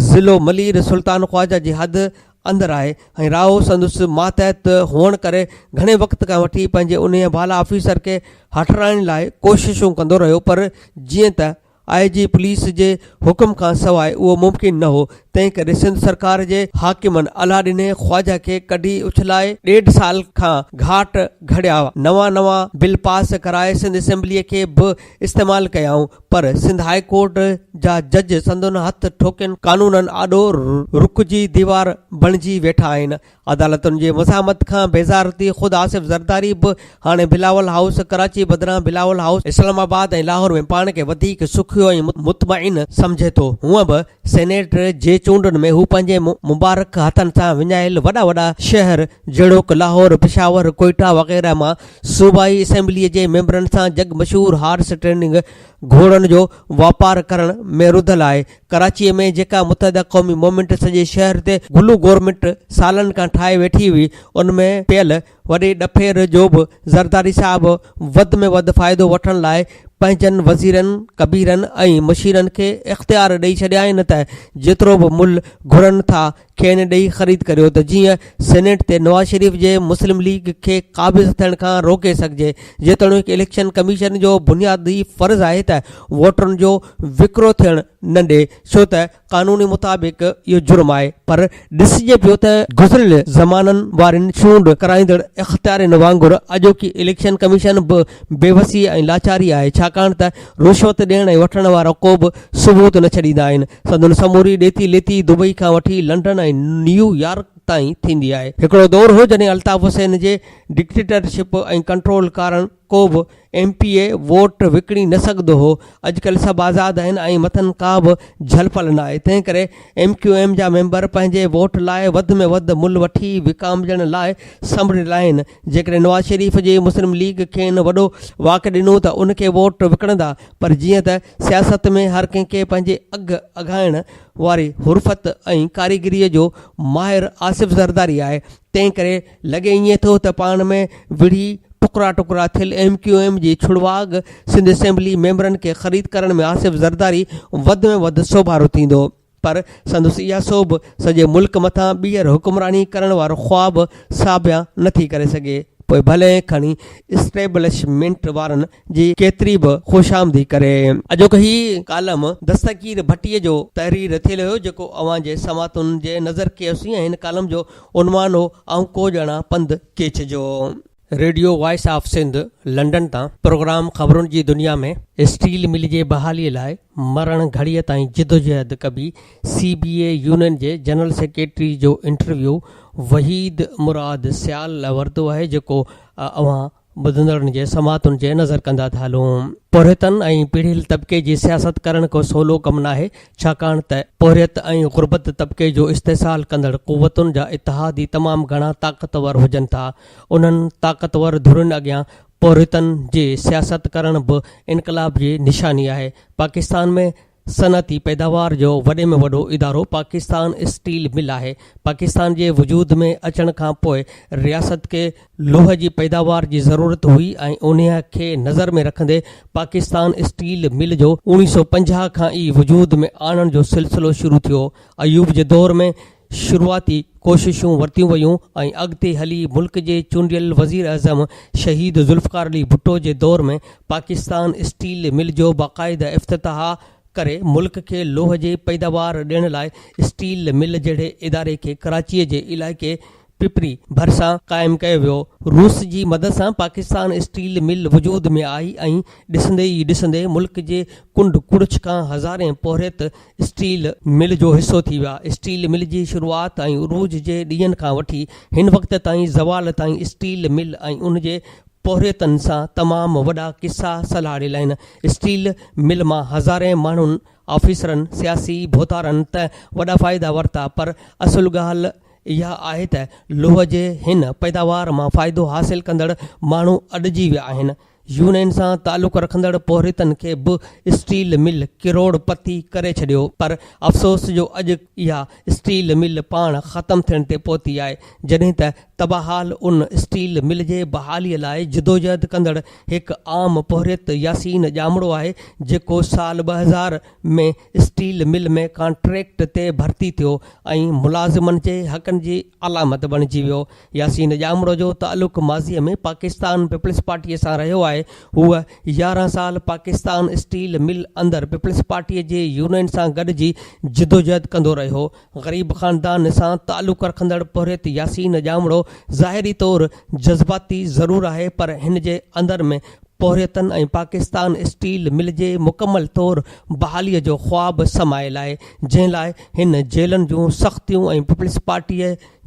ضلعو ملير سلطان خواجه جي حد اندر آهي ۽ راهو سندس ماتحت هئڻ ڪري گهڻي وقت کان وٺي پنهنجي انهيء بالا آفيسر کي هٽرائڻ لاء ڪوششون ڪندو رهيو پر جيئن ته آء جي پوليس جي حڪم کان سواء اهو ممڪن نه هو، تنهنڪري سنڌ سرڪار جي حاڪمن الا ڏني خواجه کي ڪڍي اڇلائي ڏيڍ سال کان گهاٽ گهڙيا، نوان نوان بل پاس ڪرائي سنڌ اسيمبليء کي به استعمال ڪيائون، پر سنڌ هاء ڪورٽ جا جج سندن هٿ ٺوڪين قانونن آڏو رڪجي ديوار بڻجي ويٺا آهن، عدالتن جي مزاحمت کان بيزار ٿي خود آصف زرداري به هاڻي بلاول هائوس ڪراچي بدران بلاول هائوس اسلام آباد ۽ لاهور ۾ پاڻ کي وڌيڪ سکيو ۽ مطمئن سمجهي ٿو. هونء به سينيٽ جي چونڊن ۾ هو پنهنجي مبارڪ هٿن سان وڃايل وڏا وڏا شهر جهڙوڪ لاهور، پشاور، ڪوئيٽا وغيره مان صوبائي اسيمبليء جي ميمبرن سان جڳ مشهور هارس ٽريڊنگ، گهوڙن جو واپار، ڪرڻ ۾ رڌل آهي، ڪراچيء ۾ جيڪا متحده قومي مومينٽ سڄي شهر تي گلو گورمينٽ سالن کان ٺاهي ويٺي هئي، ان ۾ پيل وڏي ڏڦير جو به زرداري صاحب وڌ ۾ وڌ فائدو وٺڻ لاء پنهنجن وزيرن، ڪبيرن ۽ مشيرن کي اختيار ڏئي ڇڏيائين ته جيترو به ملھ گهرن ٿا، کين ڏئي خريد ڪريو ته جيئن سينيٽ تي نواز شريف جي مسلم ليگ کي قابض ٿيڻ کان روڪي سگهجي جيتوڻيڪ اليڪشن ڪميشن جو بنيادي فرض آهي ته ووٽرن جو وڪرو ٿيڻ نه ڏي ڇو ته قانون مطابق اهو جرم آهي پر ڏسجي پيو ته گذريل زمانن وارين چونڊ ڪرائيندڙ اختيارين وانگر اڄوڪي اليڪشن ڪميشن به بيوسي ۽ لاچاري آهي ڇاڪاڻ ته رشوت ڏيڻ ۽ وٺڻ وارا ڪوبه ثبوت نه ڇڏيندا آهن. سندن سموري ڏيتي ليتي دبئي کان وٺي لنڊن ۽ نيو يارڪ تائين ٿيندي آهي. هڪڙو دور هو جڏهن الطاف حسين جي ڊڪٽيٽرشپ ۽ ڪنٽرول ڪارڻ ڪوبه ايم پي اي ووٽ وڪڻي نه سگهندو هو. اڄڪلهه سڀ آزاد آهن ۽ مٿن ڪابه جهل پل ناهي. تنهنڪري ايم ڪيو ايم جا ميمبر پنهنجي ووٽ لاء وڌ ۾ وڌ مل وٺي وڪامجڻ لاء سنبڙيل آهن. جيڪڏهن نواز شريف جي مسلم ليگ کين وڏو واڪ ڏنو ته ان کي ووٽ وڪڻندا پر جيئن ته سياست ۾ هر ڪنهن کي پنهنجي اگهه اگهائڻ واري حرفت ۽ ڪاريگري جو ماهر آصف زرداري آهي تنهنڪري لڳي ائين ٿو ته پاڻ ۾ وڙهي ٽڪرا ٽڪرا ٿيل ايم ڪيو ايم جي ڇڙواڳ سنڌ اسيمبلي ميمبرن کي خريد ڪرڻ ۾ آصف زرداري وڌ ۾ وڌ سوڀارو ٿيندو. پر سندس اها سوڀ سڄي ملڪ مٿان ٻيهر حڪمراني ڪرڻ وارو خواب ساڀيا نه ٿي ڪري سگهي، پوء ڀلي کڻي اسٽيبلشمينٽ وارن جي ڪيتري به خوشامدي ڪري. اڄوڪو هي ڪالم دستگير ڀٽي جو تحرير ٿيل هيو، جيڪو اوهان جي سماعتن جي نظر ڪيوسين ۽ هن ڪالم جو عنوان هو، آئون ڪو ڄاڻان پنڌ ڪيڇ جو. Radio voice of Sindh London تان پروگرام خبرن جي دنيا ۾ اسٽيل مل جي بحالي لاء مرڻ گهڙي تائين جدوجهد ڪبي سي بي اي يونين جي جنرل سيڪريٽري جو انٽرويو وحيد مراد سيال لاء ورتو آهي جيڪو اوهان ٻڌندڙن جي سماعتن جي نظر ڪندا ٿا هلون. پورهيتن ۽ پيڙهيل طبقي جي سياست ڪرڻ ڪو سولو ڪم ناهي ڇاڪاڻ ته پورهيت ۽ غربت طبقي جو استحصال ڪندڙ قوتن جا اتحاد ئي تمام گهڻا طاقتور هجن ٿا انهن طاقتور ڌرين اڳيان پورهيتن جي سياست ڪرڻ به انقلاب جي نشاني آهي. پاڪستان ۾ صنعتي پيداوار جو وڏي ۾ وڏو ادارو پاڪستان اسٽيل مل آهي. پاڪستان جي وجود ۾ اچڻ کان پوء رياست کي لوهه جي پيداوار جي ضرورت هئي ۽ انهيء کي نظر ۾ رکندي پاڪستان اسٽيل مل جو اوڻيهه سؤ پنجاهه کان ئي وجود ۾ آڻڻ جو سلسلو شروع ٿيو. ايوب جي دور ۾ شروعاتي ڪوششون ورتيون ويون ۽ اڳتي هلي ملڪ جي چونڊيل وزيراعظم شهيد ذوالفقار علي ڀٽو جي دور ۾ پاڪستان اسٽيل مل جو باقاعده افتتاح ڪري ملڪ کي لوهه جي پيداوار ڏيڻ لاء اسٽيل مل جهڙي اداري کي ڪراچي جي علائقي پپري ڀرسان قائم ڪيو ويو. روس جي مدد سان پاڪستان اسٽيل مل وجود ۾ آئي ۽ ڏسندي ئي ڏسندي ملڪ جي ڪنڊ ڪڙڇ کان هزارين پورهيت اسٽيل مل جو حصو ٿي ويا. اسٽيل مل جي شروعات ۽ عروج جي ڏينهن کان وٺي هن وقت تائين زوال تائين اسٽيل مل ۽ ان جي پورهيتن سان تمام وڏا قصا سلهاڙيل آهن. اسٽيل مل مان هزارين ماڻهن، آفيسرن، سياسي ڀوتارن ته وڏا فائدا ورتا پر اصل ڳالهه اها آهي ته لوهه جي هن پيداوار مان فائدو حاصل ڪندڙ ماڻهو اڏجي ويا آهن. يونين سان تعلق رکندڙ پورهيتن کي به اسٽيل مل ڪروڙ پتي ڪري ڇڏيو پر افسوس جو اڄ اها اسٽيل مل پاڻ ختم ٿيڻ تي پهتي آهي جڏهن ته تباهال ان اسٽيل مل جي بحالي لاء جدوجهد ڪندڙ هڪ عام پورهيت ياسين ڄامڙو آهي جيڪو سال ٻه هزار ۾ اسٽيل مل ۾ ڪانٽريڪٽ تي ڀرتي ٿيو ۽ ملازمن جي حقن جي علامت بڻجي ويو ياسين ڄامڙو جو تعلق ماضي ۾ پاڪستان پيپلز پارٽي سان رهيو آهي، هوء يارهن سال پاڪستان اسٽيل مل اندر پيپلز پارٽي جي يونين سان گڏجي جدوجهد ڪندو رهيو، غريب خاندان سان تعلق رکندڙ پورهيت ياسين ڄامڙو ظاهري طور جذباتي ضرور آهي پر هن جي اندر ۾ پورهيتن ۽ پاڪستان اسٽيل مل جي مڪمل طور بحالي جو خواب سمايل آهي جنهن لاء هن جيلن جون سختيون ۽ پيپلز پارٽي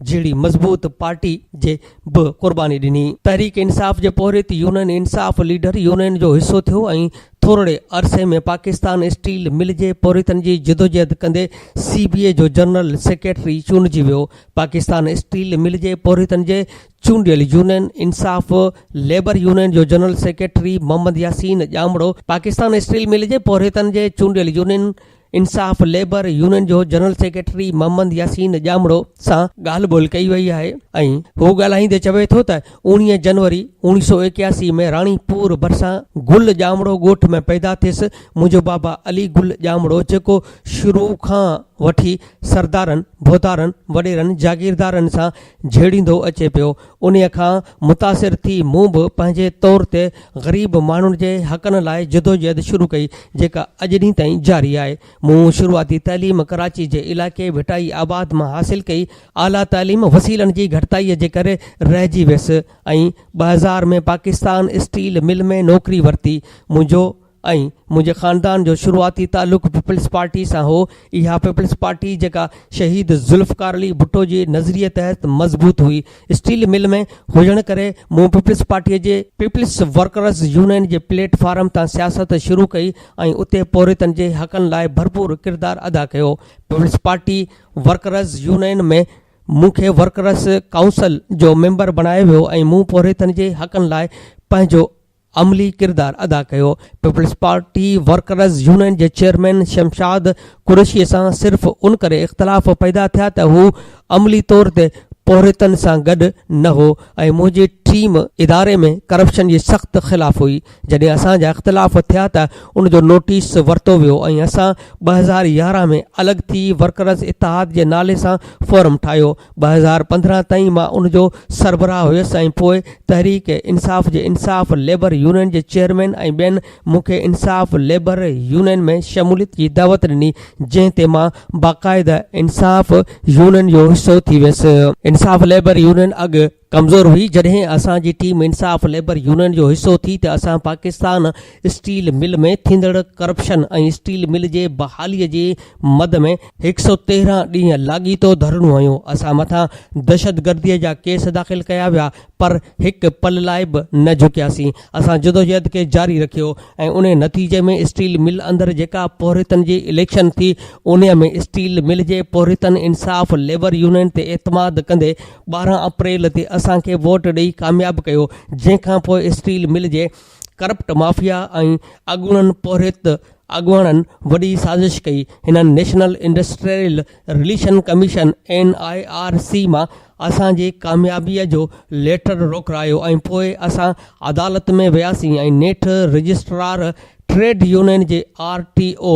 جهڙي مضبوط پارٽي جي به قرباني ڏني. تحريڪ انصاف جي پورهيت يونين انصاف ليڊر يونين جو حصو ٿيو ۽ ٿورڙي عرصي ۾ پاڪستان اسٽيل مل جي پورهيتن جي جدوجهد ڪندي سي بي اي جو جنرل سيڪريٽري چونڊجي ويو. پاڪستان اسٽيل مل جي پورهيتن جي چونڊيل يونين انصاف ليبر يونين جو general secretary Muhammad Yasin Jamro Pakistan steel mill جي پورهيتن جي چونڊيل يونين انصاف ليبر يونين جو جنرل سيڪريٽري محمد ياسين ڄامڙو سان ڳالهه ٻولهه ڪئي وئي آهي ۽ هو ڳالهائيندي چوي ٿو ته اوڻيهه جنوري اوڻيهه سؤ ايڪياسي ۾ راڻي پور ڀرسان گل ڄامڙو ڳوٺ ۾ پيدا ٿيس منهنجو بابا علي گل ڄامڙو جيڪو شروع کان وٺي سردارن، ڀوتارن، وڏيرن، جاگيردارن سان جهيڙيندو اچي پيو انهيء کان متاثر ٿي مون به پنهنجي طور تي غريب ماڻهن جي حقن لاء جدوجهد شروع ڪئي، جيڪا اڄ ڏينهن تائين جاري آهي. مون شروعاتي تعليم ڪراچي جي علائقي ڀٽائي آباد مان حاصل ڪئي. اعليٰ تعليم وسيلن جي گهٽتائيء جي ڪري رهجي ويس ۽ ٻه هزار ۾ پاڪستان اسٽيل مل ۾ نوڪري ورتي. منهنجو. ۽ منهنجي خاندان جو شروعاتي تعلق پيپلز پارٽي سان هو، اها پيپلز پارٽي جيڪا شهيد ذوالفقار علي ڀٽو جي نظريي تحت مضبوط هئي. اسٽيل مل ۾ هجڻ ڪري مون پيپلز پارٽي جي. پيپلز ورڪرز يونين جي پليٽ فارم تان سياست شروع ڪئي ۽ اتي پورهيتن جي حقن لاء ڀرپور ڪردار ادا ڪيو. پيپلز پارٽي ورڪرز يونين ۾ مون کي ورڪرز ڪائونسل جو ميمبر بڻايو ويو ۽ مون پورهيتن جي حقن لاء پنهنجو عملي ڪردار ادا ڪيو، پيپلز پارٽي ورڪرز يونين جي چيئرمين شمشاد قريشي سان صرف ان ڪري اختلاف پيدا ٿيا ته هو عملي طور تي پورهيتن سان گڏ نه هو ۽ منهنجي ٽيم اداري ۾ ڪرپشن جي سخت خلاف هئي، جڏهن اسان جا اختلاف ٿيا ته ان جو نوٽيس ورتو ويو ۽ اسان ٻه هزار يارهن ۾ الڳ ٿي ورڪرز اتحاد جي نالي سان فورم ٺاهيو، ٻه هزار پندرهن تائين مان ان جو سربراهه هيس ۽ پوء تحريڪ انصاف جي انصاف ليبر يونين جي چيئرمين ۽ ٻين مون کي انصاف ليبر يونين ۾ شموليت جي دعوت ڏني جنهن تي مان باقاعده انصاف يونين جو حصو ٿي ويس انصاف ليبر يونين اڳ ڪمزور هئي، جڏهن اسان جي ٽيم انصاف ليبر يونين جو حصو ٿي ته اسان پاڪستان اسٽيل مل ۾ ٿيندڙ ڪرپشن ۽ اسٽيل مل جي بحالي جي مد ۾ هڪ سؤ تيرهن ڏينهن لاڳيتو ڌرڻو هنيو، اسان مٿان دهشتگردي جا ڪيس داخل ڪيا ويا پر هڪ پل لاء به نه جهڪياسين، اسان جدوجهد کي جاري رکيو ۽ انهي نتيجي ۾ اسٽيل مل اندر جيڪا پورهيتن جي اليڪشن ٿي انهي ۾ اسٽيل مل جي پورهيتن انصاف ليبر يونين تي اعتماد ڪندي ٻارهن اپريل تي اسان کي ووٽ ڏئي ڪامياب ڪيو جنهن کانپوء اسٽيل مل جي ڪرپٽ مافيا ۽ اڳوڻن پورهيت اڳواڻن وڏي سازش ڪئي هنن national industrial relation commission N I R C مان اسان جي ڪاميابي جو ليٽر روڪرايو ۽ پوء اسان عدالت ۾ وياسين ۽ نيٺ رجسٽرار ٽريڊ يونين جي آر ٽي او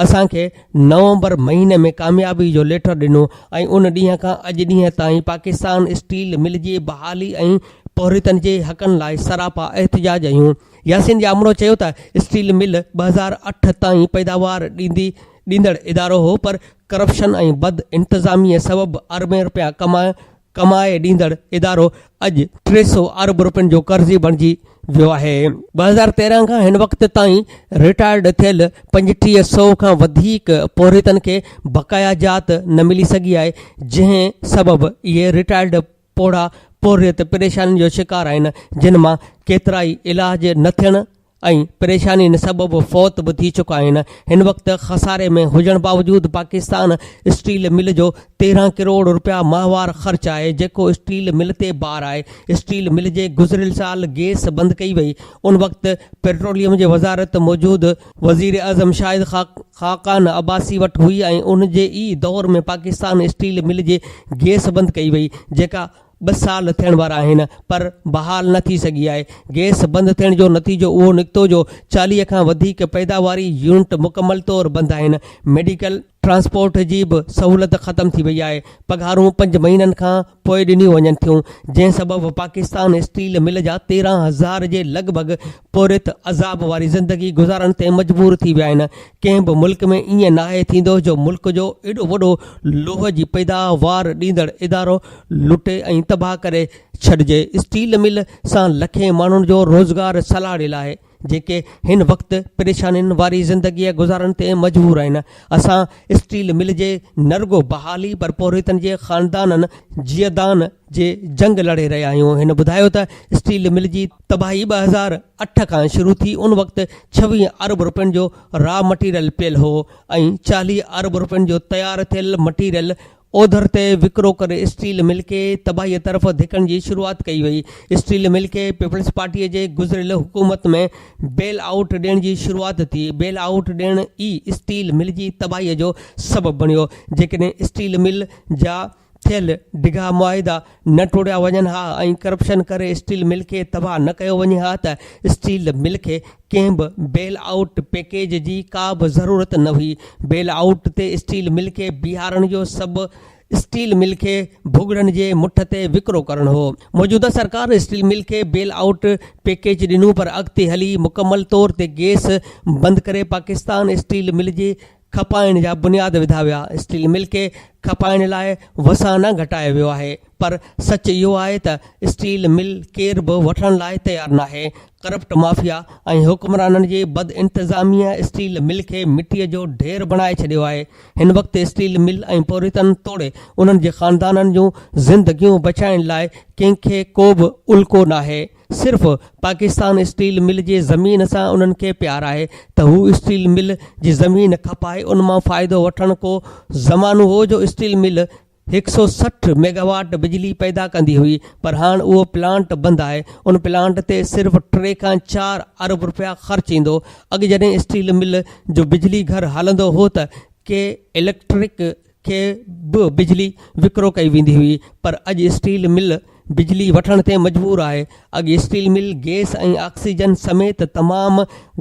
اسان کي نومبر مهيني ۾ ڪاميابي جو ليٽر ڏنو ۽ ان ڏينهن کان اڄ ڏينهن تائين پاڪستان اسٽيل مل جي بحالي ۽ پورهيتن جي حقن لاء سراپا احتجاج ايون ياسين ڄامڙو چيو ته اسٽيل مل ٻه هزار اٺ تائين پيداوار ڏيندي ڏيندڙ ادارو هو پر ڪرپشن ۽ بد انتظامي سبب اربين رپيا ڪمائڻ ڪمائي ڏيندڙ ادارو اڄ ٽي سؤ ارب رپين جو قرضي بڻجي ويو آهي. ٻه هزار تيرنهن کان هن وقت تائين رٽائرڊ ٿيل پنجٽيهه سؤ کان وڌيڪ پورهيتن کي بقايا جات نه ملي سگهي آهي، جنهن سبب اهي رٽائرڊ پوڙها پورهيت پريشانين جو شڪار آهن، جن مان ڪيترائي علاج نه ٿيڻ، ۽ پريشانين سبب فوت به ٿي چڪا آهن هن وقت خساري ۾ هجڻ باوجود پاڪستان اسٽيل مل جو تيرهن ڪروڙ رپيا ماهوار خرچ آهي جيڪو اسٽيل مل تي بار آهي اسٽيل مل جي گذريل سال گيس بند ڪئي وئي ان وقت پيٽروليم جي وزارت موجود وزيراعظم شاهد خاقان عباسي وٽ هئي ۽ ان جي ئي دور ۾ پاڪستان اسٽيل مل جي گيس بند ڪئي وئي جيڪا ٻه سال ٿيڻ وارا آهن پر بحال نه ٿي سگهي آهي، گئس بند ٿيڻ جو نتيجو اهو نڪتو جو چاليهه کان وڌيڪ پيداواري يونٽ مڪمل طور بند آهن، ميڊيڪل ٽرانسپورٽ جي به سهولت ختم ٿي وئي آهي، پگهارون پنج مهينن کان پوء ڏنيون وڃن ٿيون، جنهن سبب پاڪستان اسٽيل مل جا تيرهن هزار جي لڳ ڀڳ پورهيت عذاب واري زندگي گذارڻ تي مجبور ٿي ويا آهن، ڪنهن به ملڪ ۾ ائين ناهي ٿيندو جو ملڪ جو ايڏو وڏو لوهه جي پيداوار ڏيندڙ ادارو لٽي ۽ تباهه ڪري ڇڏجي، اسٽيل مل سان لکين ماڻهن جو روزگار سلهاڙيل آهي، جيڪي هن وقت پريشانين واري زندگي گذارڻ تي مجبور آهن، اسان اسٽيل مل جي نه رڳو بحالي پر پورهيتن جي خاندانن جيئدان جي جنگ لڙي رهيا آهيون، هن ٻڌايو ته اسٽيل مل جي. تباهي ٻه هزار اٺ کان شروع ٿي ان وقت ڇويهه ارب رپين جو را مٽيريل پيل هو ۽ چاليهه ارب رپين جو تيار ٿيل مٽيريل اوڌر تي وڪرو ڪري اسٽيل مل کي تباهي طرف ڌڪڻ جي شروعات ڪئي وئي اسٽيل مل کي پيپلز پارٽي جي گذريل حڪومت ۾ بيل آئوٽ ڏيڻ جي شروعات ٿي بيل آئوٽ ڏيڻ ئي اسٽيل مل جي تباهي جو سبب بڻيو جيڪڏهن اسٽيل مل جا ٿيل ڊگها معاهدا نه ٽوڙيا وڃن ها ۽ ڪرپشن ڪري اسٽيل مل کي تباهه نه ڪيو وڃي ها ته اسٽيل مل کي ڪنهن به بيل آئوٽ پيڪيج جي ڪا به ضرورت نه هئي، بيل آئوٽ تي اسٽيل مل کي بيهارڻ جو سبب اسٽيل مل کي ڀڳڙن جي مٺ تي وڪرو ڪرڻ هو، موجوده سرڪار اسٽيل مل کي بيل آئوٽ پيڪيج ڏنو پر اڳتي هلي مڪمل طور تي گيس بند ڪري پاڪستان اسٽيل مل جي کپائڻ جا بنياد وڌا ويا، اسٽيل مل کي کپائڻ لاء وسان نه گهٽايو ويو آهي پر سچ اهو آهي ته اسٽيل مل ڪير به وٺڻ لاء تيار ناهي، ڪرپٽ مافيا ۽ حڪمرانن جي بد انتظاميء اسٽيل مل کي مٽيء جو ڍير بڻائي ڇڏيو آهي، هن وقت اسٽيل مل ۽ پورهيتن توڙي انهن جي خاندانن جون زندگيون بچائڻ لاء ڪنهن کي ڪو به الڪو ناهي، صرف پاڪستان اسٽيل مل جي زمين سان انهن کي پيار آهي ته هو اسٽيل مل جي زمين کپائي ان مان فائدو وٺڻ ڪو زمانو هو جو اسٽيل مل هڪ سئو سٺ ميگاواٽ بجلي پيدا ڪندي هئي پر هاڻ اهو پلانٽ بند آهي ان پلانٽ تي صرف ٽي کان چار ارب رپيا خرچ ايندو اڳ جڏهن اسٽيل مل جو بجلي گهر هلندو هو ته ڪي اليڪٽرڪ کي به بجلي وڪرو ڪئي ويندي هئي پر اڄ اسٽيل مل بجلي وٺڻ تي مجبور آهي، اڳي اسٽيل مل گئس ۽ آڪسيجن سميت تمام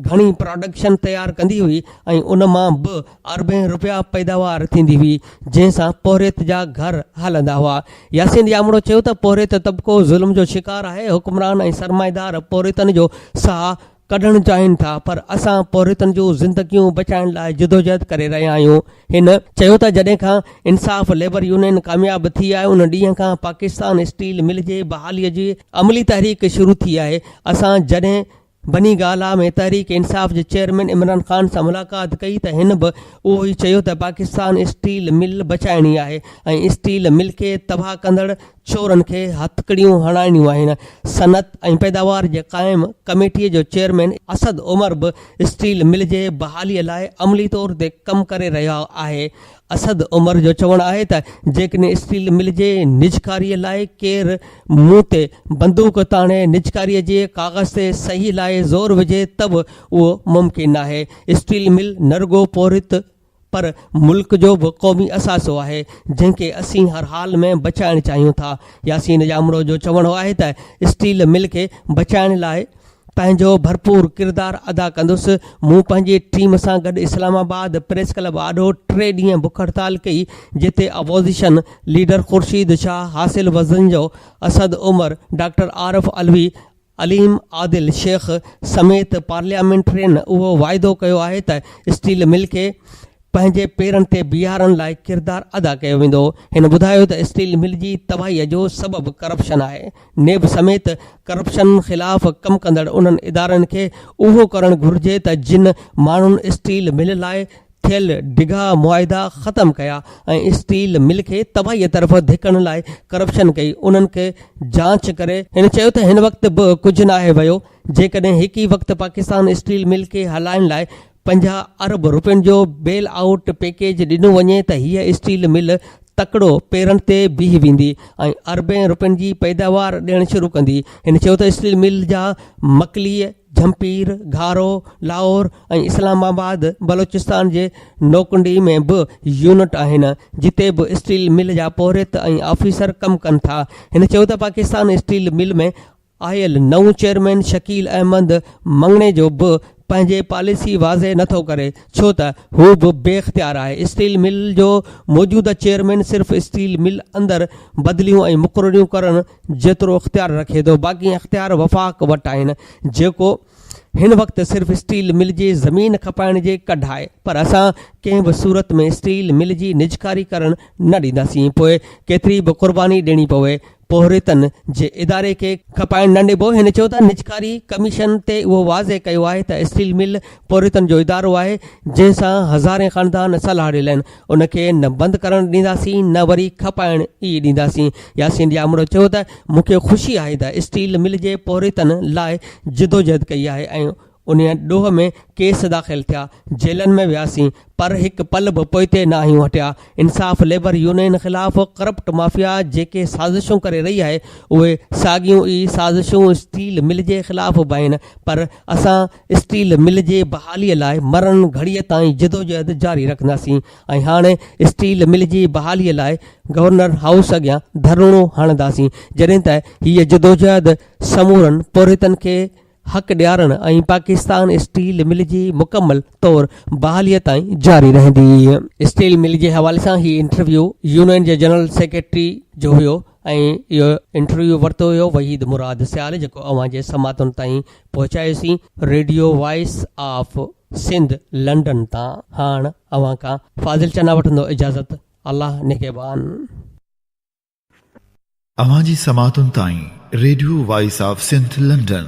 گهڻي پراڊڪشن تيار ڪندي هئي ۽ ان مان به اربين رپيا پيداوار ٿيندي هئي جنهن سان پورهيت جا گهر هلندا هئا. ياسين ڄامڙو چيو ته پورهيت طبقو ظلم جو شڪار آهي، حڪمران ۽ سرمائيدار پورهيتن جو ساهه ڪڍڻ چاهين ٿا پر اسان پورهيتن جون زندگيون بچائڻ لاء جدوجهد ڪري رهيا آهيون هن چيو ته جڏهن کان انصاف ليبر يونين ڪامياب ٿي آهي ان ڏينهن کان پاڪستان اسٽيل مل جي بحالي جي عملي تحريڪ شروع ٿي آهي اسان جڏهن بني گالا ۾ تحريڪ انصاف جي چيئرمين عمران خان سان ملاقات ڪئي ته هن به اهو ئي چيو ته پاڪستان اسٽيل مل بچائڻي آهي ۽ اسٽيل مل کي تباهه ڪندڙ چورن کي هٿڪڙيون هڻائڻيون آهن، صنعت ۽ پيداوار جي قائم ڪميٽي جو چيئرمين اسد عمر به اسٽيل مل جي بحالي لاء عملي طور تي ڪم ڪري رهيو آهي، اسد عمر جو چوڻ آهي ته جيڪڏهن اسٽيل مل جي نجڪاري لاء ڪير مون تي بندوق تاڻي نجڪاري جي ڪاغذ تي صحيح لاء زور وجهي ته به اهو ممڪن ناهي، اسٽيل مل نه رڳو پورهيت. پر ملڪ جو به قومي اثاثو آهي، جنهن کي اسين هر حال ۾ بچائڻ چاهيون ٿا. ياسين ڄامڙو جو چوڻو آهي ته اسٽيل مل کي بچائڻ لاء پنهنجو ڀرپور ڪردار ادا ڪندس، مون پنهنجي ٽيم سان گڏ اسلام آباد پريس ڪلب آڏو ٽي ڏينهن بک هڙتال ڪئي، جتي opposition leader Khurshid Shah, Hasil Bizenjo, Asad Umar, doctor Arif Alvi, Aleem Adil Sheikh سميت پارليامينٽرين اهو واعدو ڪيو آهي ته اسٽيل مل کي پنهنجي پيرن تي بيهارڻ لاء ڪردار ادا ڪيو ويندو، هن ٻڌايو ته اسٽيل مل جي تباهي جو سبب ڪرپشن آهي، نيب سميت ڪرپشن خلاف ڪم ڪندڙ انهن ادارن کي اهو ڪرڻ گهرجي ته جن ماڻهن اسٽيل مل لاء ٿيل ڊگها معاهدا ختم ڪيا ۽ اسٽيل مل کي تباهي طرف ڌڪڻ لاء ڪرپشن ڪئي انهن کي جانچ ڪري هن چيو ته هن وقت به ڪجهه ناهي ويو جيڪڏهن هڪ ئي وقت پاڪستان اسٽيل مل کي هلائڻ لاء پنجاهه ارب رپين جو بيل آئوٽ پيڪيج ڏنو وڃي ته هيء اسٽيل مل تڪڙو پيرن تي بيهي ويندي ۽ اربين رپين جي پيداوار ڏيڻ شروع ڪندي هن چيو ته اسٽيل مل جا مڪليء جھمپير، گھارو، لاھور ۽ اسلام آباد بلوچستان جي نوڪنڊي ۾ به يونٽ آھن جتي به اسٽيل مل جا پورھيت ۽ آفيسر ڪم ڪن ٿا. ھن چيو ته پاڪستان اسٽيل مل ۾ آيل نئون چيئرمين شڪيل احمد مڱڻيجو به پنھنجي پاليسي واضح نه ٿو ڪري ڇو ته ھو به بي اختيار آھي اسٽيل مل جو موجوده چيئرمين صرف اسٽيل مل اندر بدليون ۽ مقرريون ڪرڻ جيترو اختيار رکي ٿو باقي اختيار وفاق وٽ آهن جيڪو هن وقت صرف اسٽيل مل جي زمين کپائڻ جي ڪڍائي پر اسان ڪنهن به صورت ۾ اسٽيل مل جي نجڪاري ڪرڻ نه ڏينداسين پوء ڪيتري به قرباني ڏيڻي پوي پورهيتن جي اداري کي کپائڻ نه ڏبو هن چيو ته نجڪاري ڪميشن تي اهو واضح ڪيو آهي ته اسٽيل مل پورهيتن جو ادارو آهي جنهن سان هزارين خاندان سلهاڙيل آهن ان کي نه بند ڪرڻ ڏينداسين نه وري کپائڻ ئي ڏينداسين، ياسين ڄامڙو چيو ته مون کي خوشي آهي ته اسٽيل مل جي پورهيتن لاء جدوجهد ڪئي آهي ۽ ان ڏوهه ۾ ڪيس داخل ٿيا، جيلن ۾ وياسين پر هڪ پل به پوئتي نه آهيون هٽيا، انصاف ليبر يونين خلاف ڪرپٽ مافيا جيڪي سازشون ڪري رهي آهي اهي ساڳيون ئي سازشون اسٽيل مل جي خلاف به آهن پر اسان اسٽيل مل جي بحالي لاء مرڻ گهڙيء تائين جدوجهد جاري رکنداسين ۽ هاڻي اسٽيل مل جي بحالي لاء گورنر هائوس اڳيان ڌرڻو هڻنداسين جڏهن ته هيء جدوجهد سمورن پورهيتن کي حق ڏيارڻ ۽ پاڪستان اسٽيل مل جي مڪمل طور بحاليء تائين جاري رهندي. اسٽيل مل جي حوالي سان هي انٽرويو يونين جي جنرل سيڪريٽري جو هيو. ۽ اهو انٽرويو ورتو ويو وحيد مراد سيال جيڪو اوهان جي سماعتن تائين پهچايوسين radio voice of Sindh London تان هاڻ اوهان کان فاضل چنا وٺندو اجازت الله نگهبان. اوهان جي سماعتن تائين radio voice of Sindh London.